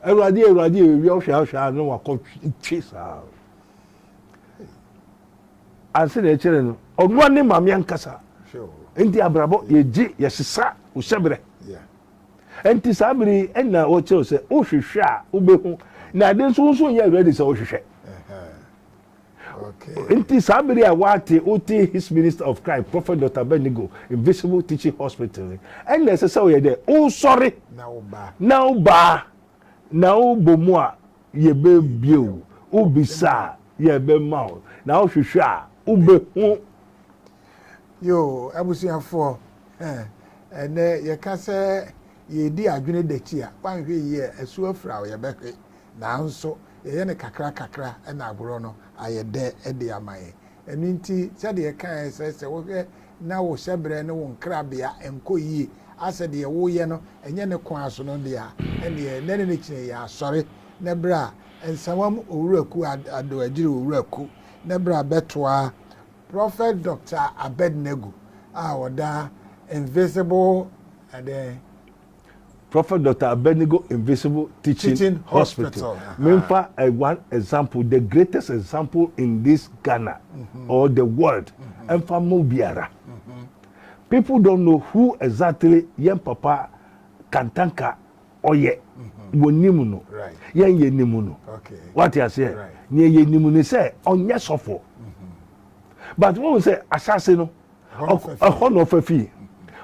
Awurade awurade ewia ɔhwɛ ahwɛ a na wakɔtwe saa. a sɛdeɛ ɛkyerɛ no ɔnoa ne maame ankasa nti abrabɔ yɛgye yɛsesa wohyɛ berɛ nti saa bere yi ɛna wɔkyerɛw sɛ wohwehwɛ a wobɛhu na ade nso wo nso nyɛ ready sɛ wohwehwɛ nti saa bere a woate wote his minister of christ prophet dr benigo invisible teaching hospital ɛna ɛsɛ sɛ woyɛ dɛ wosɔre na wobaa na wobɔ mu a Yɛbɛbue wo. Wobisa a, yɛbɛma wo. Na wohwehwɛ a, wobɛhu. Yoo abusuafoɔ eh Ɛnɛ yɛka sɛ yɛredi adwene dɛkyi a, woanhwɛ yie a asuo afira wo, yɛbɛhwe. Nanso yɛyɛ no kakra kakra na agorɔ no ayɛ dɛ de ama yɛn. Ɛno nti sɛdeɛ yɛkaeɛ sɛ sɛ wohwɛ na wo hyɛbrɛ ne wo nkrabea nkɔ yie asɛ deɛ woyɛ no ɛnyɛ ne kwan so no deɛ a, ɛnneɛ nnɛ ne ne kyene yɛ asɔre na bra Nsawam Owuraku Addo Agyiri Owuraku na bra bɛtoa Prophet Doctor Abednego a ɔda Invisible ɛdɛn Prophet Doctor Abednego Invisible Teaching, Teaching Hospital. Hospital, aha. Memfa eh, one example, the greatest example in this Ghana or the world. Ɛmfa ma obiara. People don't know who exactly yɛn papa Kantanka ɔyɛ. Wɔnim no. Right. Yɛn yɛnim no. Okay. Wate aseɛ? Right. Nea yɛnim ne sɛ ɔnyɛ sɔfo. But wohu sɛ ahyɛase no, Ɛhɔ na ɔfa fii.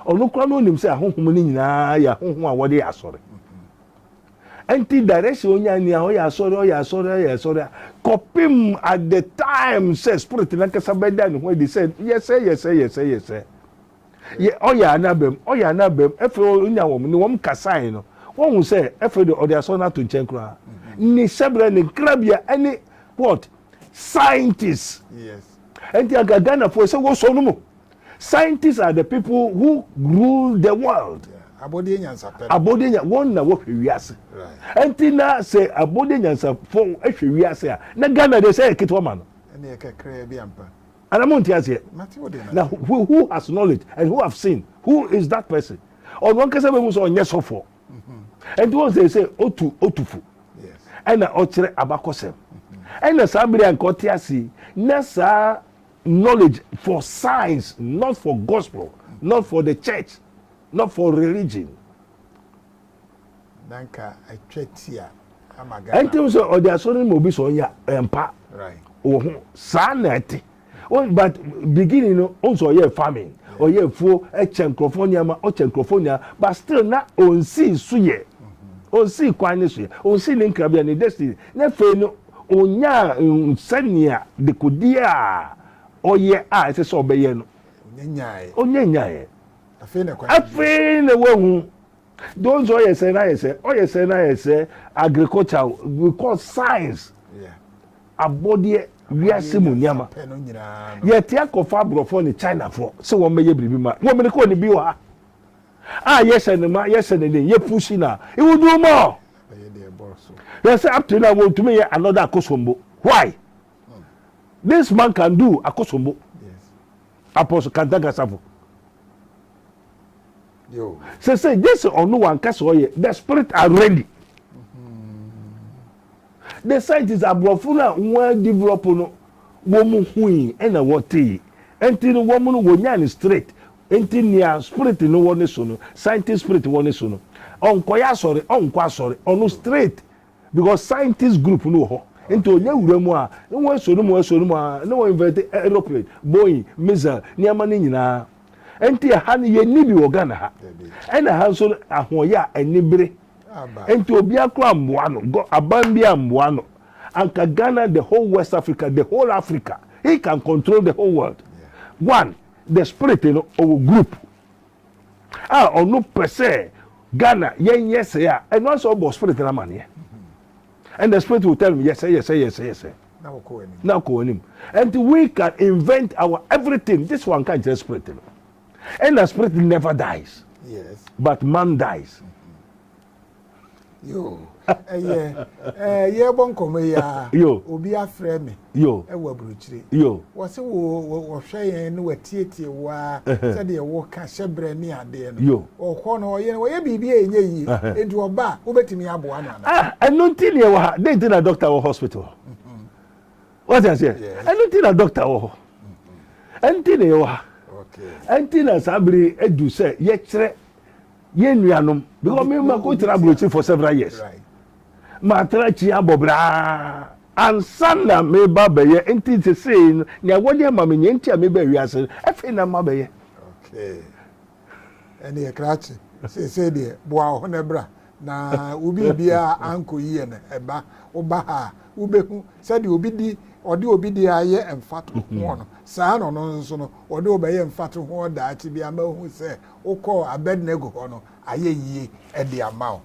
Ɔno koraa no onim sɛ ahonhom no nyinaa yɛ ahonhom a wɔde yɛ asɔre. Nti direction onya ni a ɔyɛ asɔre ɔyɛ asɔre ɔyɛ asɔre a kɔpem at the time sɛ spirit nankasa bɛda ne ho adi sɛ yɛsɛ yɛsɛ yɛsɛ yɛsɛ yɛ ɔyɛ anabam ɔyɛ anabam ɛfɛ onya wɔn ne wɔn kasae no wɔn ho sɛ ɛfɛ de ɔde asɔre no ato nkyɛn koraa ne hyɛbrɛ ne nkrabea ɛne what scientist. Yes. Enti anka Ghanafoɔ ɛsɛ wɔsɔ no mu. Scientists are the people who rule the world. Abɔdeɛ nyansapɛ. Abɔdeɛ nya wɔn na wɔhwɛ wiase. Enti na sɛ abɔdeɛ nyansapɔ hwɛ wiase a na Ghana deɛ sɛ yɛ ketewa ma no. Ɛna yɛ kakraa bi ampa. Ana mo nte aseɛ? Na who has knowledge and who have seen who is that person? Ɔno ankasa bɛhu sɛ ɔnyɛ sɔfoɔ. ɛnti wɔn sɛ sɛ otu otu fo ɛna ɔkyerɛ abakɔsɛm ɛna saa bere a nka ɔte ase na saa knowledge for science not for gospel not for the church not for religion. nanka atwa ti a ama ghana. ɛnti sɛ ɔde asɔre mu obi sɛ ɔnya mpa wɔ ho saa na ɛte. Wɔn but beginning no wɔn sɛ ɔyɛ farming ɔyɛ afuo ɛkyɛ nkorɔfoɔ nneɛma ɔkyɛ nkorɔfoɔ nyinaa but still na ɔnsii so yɛ ɔnsii kwan ne so yɛ ɔnsii ne nkrabea ne destiny na afei no ɔnyaa nsɛnea dekodeɛ a ɔyɛ a ɛsɛ sɛ ɔbɛyɛ no ɔnyɛ nyaeɛ afei na wahu Those ɔyɛ sɛ na yɛ sɛ ɔyɛ sɛ na yɛ sɛ agriculture we call science abɔdeɛ wiase mu nneɛma yɛte akɔfa aborɔfoɔ ne chinafoɔ sɛ wɔn bɛyɛ biribi ma wɔn mene kɔɔ ne bi wɔ ha a yɛhyɛ ne ma yɛhyɛ ne den yɛ pusi na iwudu mu ɔ yɛ sɛ up to now wɔntumi yɛ another akosombo why this man can do akosombo apɔso kantagasafo. sesei gye sɛ ɔno wanka sɛ ɔyɛ the spirit are ready the scientist aborɔfo no a wɔn develop no wɔn hui ɛna wɔtee nti no wɔn no wɔnya no straight nti nea spirit no wɔ ne so no scientist spirit wɔ ne so no ɔnkɔyɛ asɔre ɔnkɔ asɔre ɔno straight Because scientist group no wɔ hɔ nti ɔnya wura mu a ne ho ɛsɔ ne mu ɛsɔ ne mu aa na wɔ invent aeroplane, Boeing, missile, nneɛma no nyinaa. Ɛnti ɛha no yɛnni bi wɔ Ghana ha. Ɛna ha nso no ahoɔyɛ a anibere nti obiara koraa mmoa no, gɔ aban biara mmoa no. Anka Ghana the whole West Africa, the whole Africa, he can control the whole world. One, the spirit no ɔwɔ group. a ɔno pɛ sɛ Ghana yɛn yɛ sɛ a ɛno asɛ ɔbɔ spirit no amaneɛ and the spirit will tell him yɛsɛ yɛsɛ yɛsɛ yɛsɛ na ɔkɔ anim and we can invent our everything this one can just spirit no and the spirit never dies yes. but man dies. Mm -hmm. yo ɛyɛ ɛɛ yɛbɔ nkɔmɔ yi a yo obi afrɛ mi yo ɛwɔ aburukyire yo wɔsi wo wɔhwɛ yɛn ne wɔtietie wo a sɛdeɛ wɔka hyɛ brɛ ne adeɛ no yo ɔkɔ no ɔyɛ ɔyɛ biribi a ɛnyɛ yie nti ɔba a wobɛtumi aboa no ana ah ɛno nti ne ɛwɔ ha dɛn nti na dɔkta wɔ hospital wɔte aseɛ ɛno nti na dɔkta wɔ hɔ ɛnti na ɛwɔ ha ɛnti na saa bere adu sɛ yɛkyerɛ Yɛn nuanom, because me ma ko tra aburokyi for several years. Ma tra akyi abɔ braa. Ansa na me ba bɛyɛ nti te se no nea wɔde ama me nea nti a me ba wiase no afei na ma bɛyɛ. Okay. Ɛne yɛ krakye. Sese deɛ boa wo ho na bra na wo biribia anko yie no ɛba wo ba ha a wo behu sɛdeɛ obi di ɔde obi deɛ ayɛ mfato ho no saa na ɔno nso no ɔde wo bɛyɛ mfato ho daakye bi ama ohu sɛ wokɔɔ Abednego hɔ no ayɛ yie de ama wo.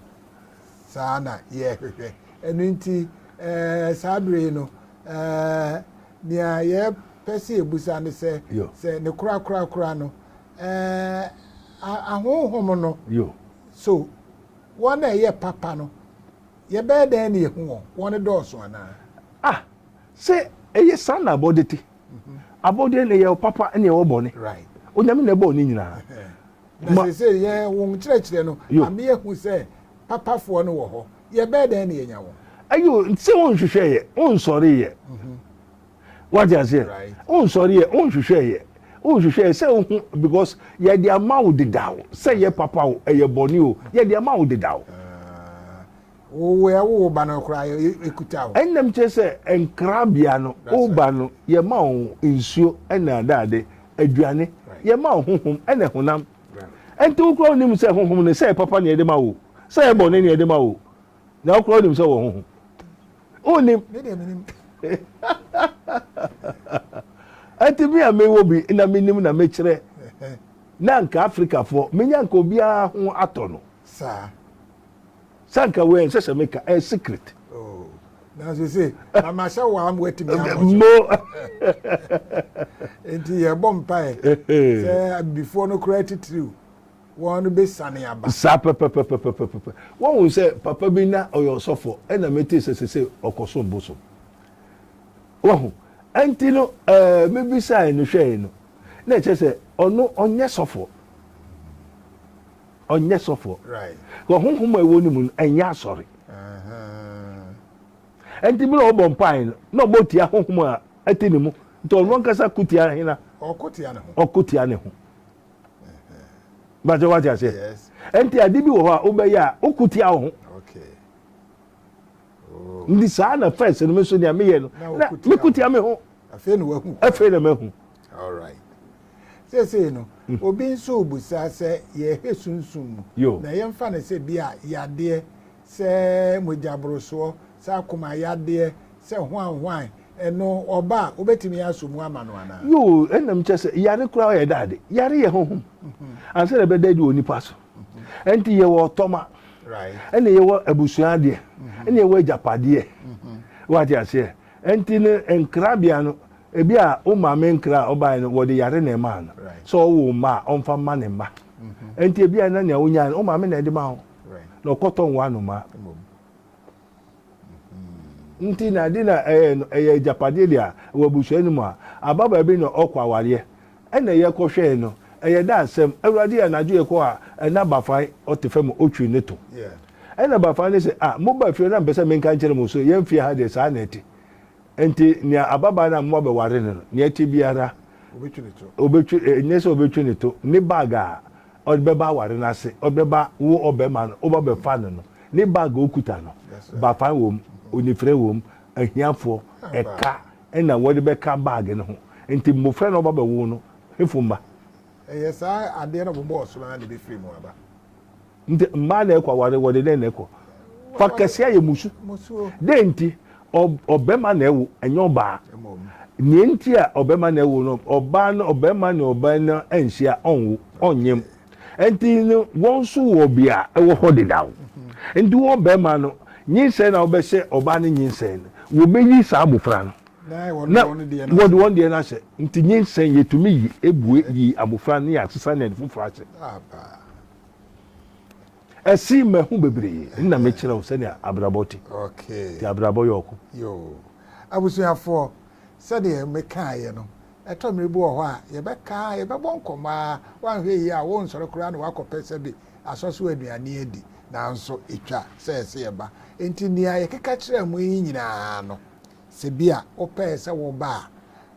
Saa na yɛhwehwɛ. Ɛno nti, eh, saa bere yi no, eh, nea yɛpɛ sɛ yɛbusa ne sɛ, sɛ ne korakorakora no, eh, ahonhom no, so wɔn a ɛyɛ papa no, yɛbɛyɛ dɛn ne yɛhu wɔn? Wɔn dɔɔso anaa? Ah, sɛ ɛyɛ saa na abɔde te. abɔdeɛ na yɛwɔ papa na yɛwɔ bɔne onyame na ɛbɔɔ ne nyinaa na sese yɛ wɔn kyerɛkyerɛ no ame ehu sɛ papafoɔ no wɔ hɔ yɛbɛɛ dɛn na yɛnya wɔn ayo sɛ wɔn nhwehwɛ yɛ wɔn nsɔre yɛ mhm. wate aseɛ wɔn nsɔre yɛ wɔn nhwehwɛ yɛ wɔn nhwehwɛ yɛ sɛ ohu because yɛde ama wo dedaw sɛ yɛ papa o ɛyɛ bɔne o yɛde ama wo dedaw ah. Wo wo yɛ wo wo ba no koraa yɛ ekuta o. Ɛnam kyerɛ sɛ nkrabea no wo ba no yɛ ma wo nsuo ɛna adade aduane yɛ ma wo honhom ɛna honam ɛnti wo koraa onim sɛ honhom no sɛ papa na yɛde ma wo sɛ yɛ bɔ ne na yɛde ma wo na wo koraa onim sɛ wɔ honhom onim ɛnti mi a mi wɔ bi na mi nim na mi kyerɛ na nka Africa foɔ mi nya nka obiara ho atɔ no. saa. Sɛ anka wei ɛnsɛ sɛ meka ɛyɛ secret. Oh, nanso se mama sɛ waa mo atumi abɔ so. Mo. Nti yɛbɔ mpae sɛ abibifoɔ no koraa titiriw wɔn no bɛsane aba. Saa pɛpɛpɛpɛpɛpɛ. Wɔhu sɛ papa bi na ɔyɛ ɔsɔfoɔ ɛna metee sɛ sese ɔkɔsom bosom. Wɔhu ɛnti no ɛɛ eh, mebisae no hwɛe no na ɛkyɛ sɛ ɔno ɔnyɛ sɔfoɔ. ɔnyɛ sɔfoɔ na honhom a ɛwɔ ne mu no ɛnyɛ asɔre ɛnti mmerɛ ɔbɔ mpae no na ɔbɔ tia honhom a ɛte ne mu nti ɔno ankasa ko tia hena ɔko tia ne ho bàtɛ wàtí aseɛ ɛnti ade bi wɔ hɔ a wobɛyɛ a woko tia wo ho oh. nti saa na fɛs no me nso nea meyɛ no na meko tia me ho afei na mahu All right. Seesei no, mm. obi nso rebusa sɛ yɛhwɛ sunsum mu. Yo. Na yɛmfa no sɛ bi a yadeɛ sɛ mogyaborosoɔ, sɛ akoma yadeɛ, sɛ hwanhwan, ɛno ɔba a wobɛtumi aso mu ama no anaa? Yo, ɛnam kyɛ sɛ yare koraa yɛ daade. Yare yɛ honhom. Mhm. Ansa na ɛbɛda adi wɔ nipa so. Mhm. Ɛnti yɛwɔ ɔtɔma. Ɛna yɛwɔ abusua adeɛ. Mhm. Ɛna yɛwɔ agyapadeɛ. Wate aseɛ? Ɛnti no nkra bea no ebi a wo maame nkra a ɔbaeɛ no wɔde yare na ɛmaa no sɛ ɔwo mma a ɔmfa mma ne mma ɛnti ebi a na nea wonyae no wo maame na ɛde ma wo na ɔkɔtɔ nwoa no ma nti na ade na ɛyɛ no ɛyɛ agyapadeɛ deɛ a wɔ abusua no mu a aba baabi na ɔkɔ awareɛ Ɛnna yɛkɔhwɛe no, ɛyɛ dɛ asɛm, Awurade, anadwo yɛkɔɔ a, na Bafan te fam a otwiri ne to. Ɛnna Bafan no se, Ah, mobaa fie no, na mepɛ sɛ menka nkyerɛ mo nso, yɛn fie ha deɛ, saa na ɛte. Enti nea ababaa no a moabɛware no no, nea ɛte biara, obetwi, ɛnyɛ sɛ obetwi ne to, ne bag a ɔde bɛba aware no ase, ɔde bɛba, wo ɔbarima no, woba bɛfa no no, ne bag a okuta no, Bafan wom, onifirani wom, ahiafoɔ, ɛka, na wɔde bɛka baage no ho. Enti mmofra na wɔba bɛwo no, hefo mma? Ɛyɛ saa adeɛ no a wɔbɔɔ so no ara na ɛbɛfiri mu aba. Nti mmaa na ɛkɔ aware, wɔde dɛn na ɛkɔ? Fa kɛseɛ ayɛ musu. Dɛn nti? Ɔbɛma na ɛwo, ɛnyɛ ɔbaa. Nea nti a ɔbɛma na ɛwo no, ɔbaa no, ɔbɛma ne ɔbaa no anhyia, ɔnwo, ɔnyem. Nti no wɔn nso wɔ bea ɛwɔ hɔ dedaw. Nti wo ɔbarima no nyinsɛn na wobɛhyɛ ɔbaa no nyinsɛn no, wɔbɛyi saa abofra no na wɔde wɔn deɛ no ahyɛ. Nti nyinsɛn yɛtumi yi, ɛbue yi abofra no na yɛasesa no yɛde foforɔ ahyɛ. Ɛse mahu bebree na mekyerɛ wo sɛdeɛ abrabɔ te. Nti abrabɔ yɛ ɔko. Yoo. Abusuafoɔ, sɛdeɛ mekaeɛ no, Ɛtɔ mmere bi wɔ hɔ a, yɛbɛka ara, yɛbɛbɔ nkɔmmɔ ara, woanhwɛ yie a worensɔre koraa na woakɔpɛ sɛbe asɔ so aduane adi. Nanso etwa sɛ ɛse yɛba. Enti nea yɛkeka kyerɛɛ mo yi nyinaa no, sɛ bi a wopɛe sɛ woba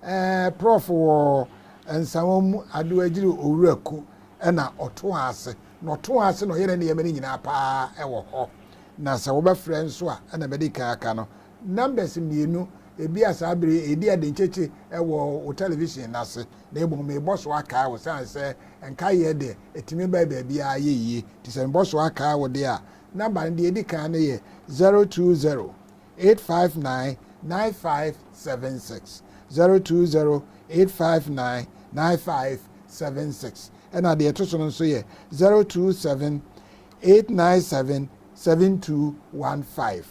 a, ɛɛ Prɔf. Wɔ Nsawa mu, Adoagyiri Owura Ku na ɔtoaa ase, na ɔtoaa ase na ɔyɛɛ ne nneɛma no nyinaa pa ara wɔ hɔ. Na sɛ wobɛfrɛ nso a, ɛna madi kan aka no, Numbers mmienu, ebia saa bere yi eedi ade nkyekye wɔ wo television no ase, na mmom mebɔ so akae wo, esiane sɛ nkaeyɛ de, etumi ba baabiara yɛ yiye. Enti sɛ mebɔ so akae wo de a, nɔmba no, nea edi kan no yɛ zero two zero, eight five nine, nine five seven six, zero two zero, eight five nine, nine five seven six, ɛnna deɛ ɛto so no nso yɛ zero two seven, eight nine seven, seven two one five.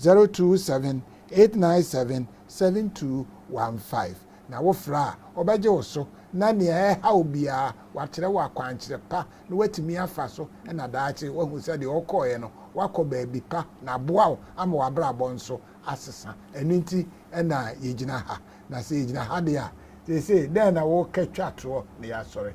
zero two seven eight nine seven seven two one five na wo frɛ a wɔbɛgye wo so na nea ɛreha wo biara wɔakyerɛ wo akwankyerɛ pa na woatumi afa so na daakye woahu sɛ deɛ ɔkɔeɛ no woakɔ baabi pa na aboa wo ama w'abrabɔ nso asesa ɛno nti na yɛgyina ha na sɛ yɛgyina ha deɛ a seesei dɛn na woka twa toɔ na yɛasɔre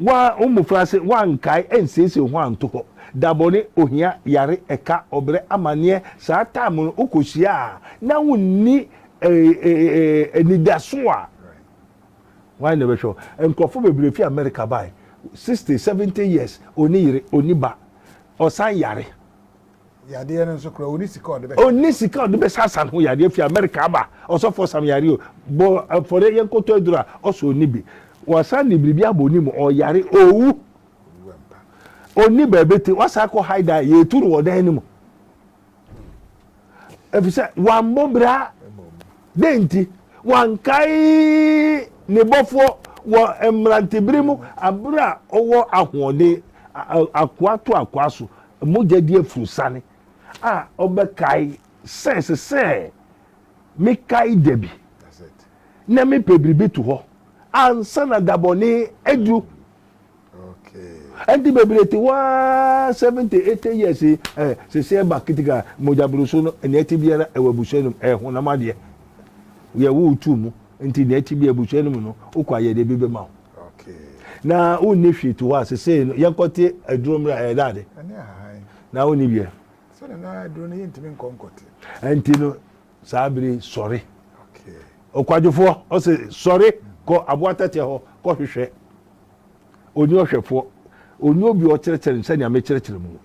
Wɔn a wɔn mmofraase wɔankae ansiesie wɔn ho anto hɔ. Da bɔne, ohia, yare, ɛka, ɔbrɛ, amanneɛ, saa time no wokohyia a na wonni anidaso a, hwan na ɛbɛhwɛ wo? Nkurɔfo bebree fi Amerika bae, 60, 70 years, onni yere, onni ba, ɔsan yare. yadeɛ no nso kora ɔni sika ɔde bɛhyɛ ɔni sika ɔde bɛhyɛ asan ho yadeɛ fi amerika aba ɔsɔfoɔ sam yare o bɔ afɔre yɛn kɔtɔ aduru a ɔsɔ ɔni bi wasan de biribi abɔ ɔni mu ɔyare owu ɔni baabi te wasan kɔ haida a yɛtu no wɔ dan no mu efisɛ wammɔ bra dɛn nti wankae ne bɔfoɔ wɔ mmerantebere mu abere a ɔwɔ ahoɔden akoa to akoa so Mogya di afurusiane a ɔbɛkae sɛ ɛsɛ sɛ mekae da bi na mepɛ biribi to hɔ ansa na da bɔne aduru. Ɛnti bebree te hɔ ara seventy eighty years yi ɛ sese ɛba kitika mogya buruso no nea ɛte biara ɛwɔ abusua no mu ɛyɛ honam adeɛ yɛwo tu mu nti nea ɛte bi abusua no mu no wokɔ ayɛ deɛ bi bɛma wo. na wonni hwee to hɔ a sesei no yɛnkɔte aduro mmerɛ a ɛyɛ dɛ ade na wonni bia ɛnti no saa bere sɔre ɔkwadwofoɔ ɔsɛ sɔre kɔ aboa tɛtɛ hɔ kɔhwehwɛ ɔni ɔhwɛfoɔ ɔni obi ɔkyerɛkyerɛ no sɛnea mekyerɛkyerɛ mu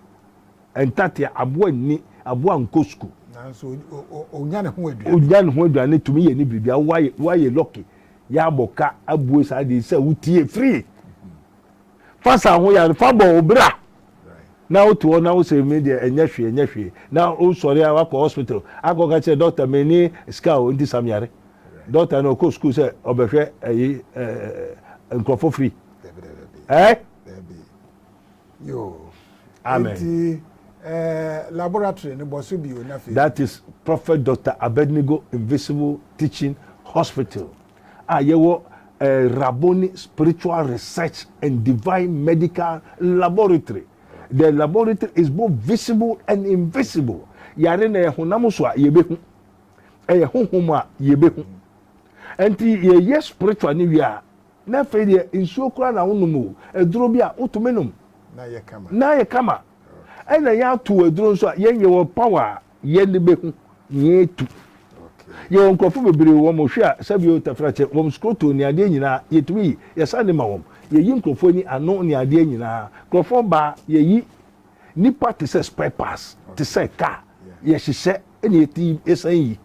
ntatea aboa nni aboa nkɔ sukuu onya ne ho aduane tumi yɛ ne biribi a woayɛ lɔke Yɛabɔ ka abue saa de sɛ wotie firi fasa ho yɛ fa bɔ wo bra na wote hɔ na wosɛ me deɛ ɛnyɛ hwee ɛnyɛ hwee na wosɔre a wakɔ hospital akɔka kyerɛ dɔkta meni sika o nti sam yare dɔkta no ɔkɔ sukuu sɛ ɔbɛhwɛ ɛyi nkurɔfo firi ɛɛ yoo amen eti ɛɛ laboratory no bɔ so bio na fe. that is prophet doctor abednego invisible teaching hospital a yɛwɔ ɛɛ raboni spiritual research and divine medical laboratory the laboratory is both visible and invisible yare na yɛ honam so a yɛbɛhu ɛyɛ honhom a yɛbɛhu nti yɛyɛ spiritual ne wie a Na afei deɛ nsuo koraa na wonom o, aduro bi a wotumi nom na ayɛ kama. Na ayɛ kama. Okay. Ɛna yɛato aduro nso a yɛn yɛwɔ power a yɛn de bɛhu na yɛatu. Okay. Yɛwɔ nkurɔfo bebree wɔn hwe a sɛbio tafrakyɛ wɔn skroto ne adeɛ nyinaa yɛtumi yi yɛsan de ma wɔn. Yɛyi nkurɔfoɔ ani ano ne adeɛ nyinaa. Nkurɔfoɔ baa yɛyi nipa te sɛ spare parts te sɛ car yɛhyehyɛ ɛna yɛti yɛsan yi.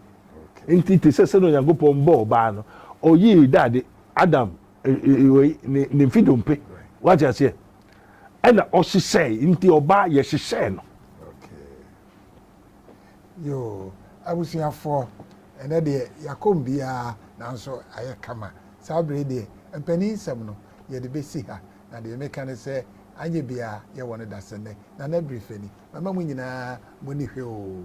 Nti te sɛ sɛdeɛ Onyankopɔn bɔɔ ɔbaa no ɔyii dade Adam wei ne mfe dompe wate aseɛ ɛna ɔhyehyɛe nti ɔbaa yɛhyehyɛe no. Yoo abusuafoɔ ɛnɛ deɛ yɛakɔm biara nanso ayɛ kama saa bere deɛ mpanin nsɛm no yɛde bɛsi ha na deɛ meka ne sɛ anyɛ biara yɛwɔ no dasɛnnɛ Nana Birifani mama mo nyinaa mo ani hwɛ oo.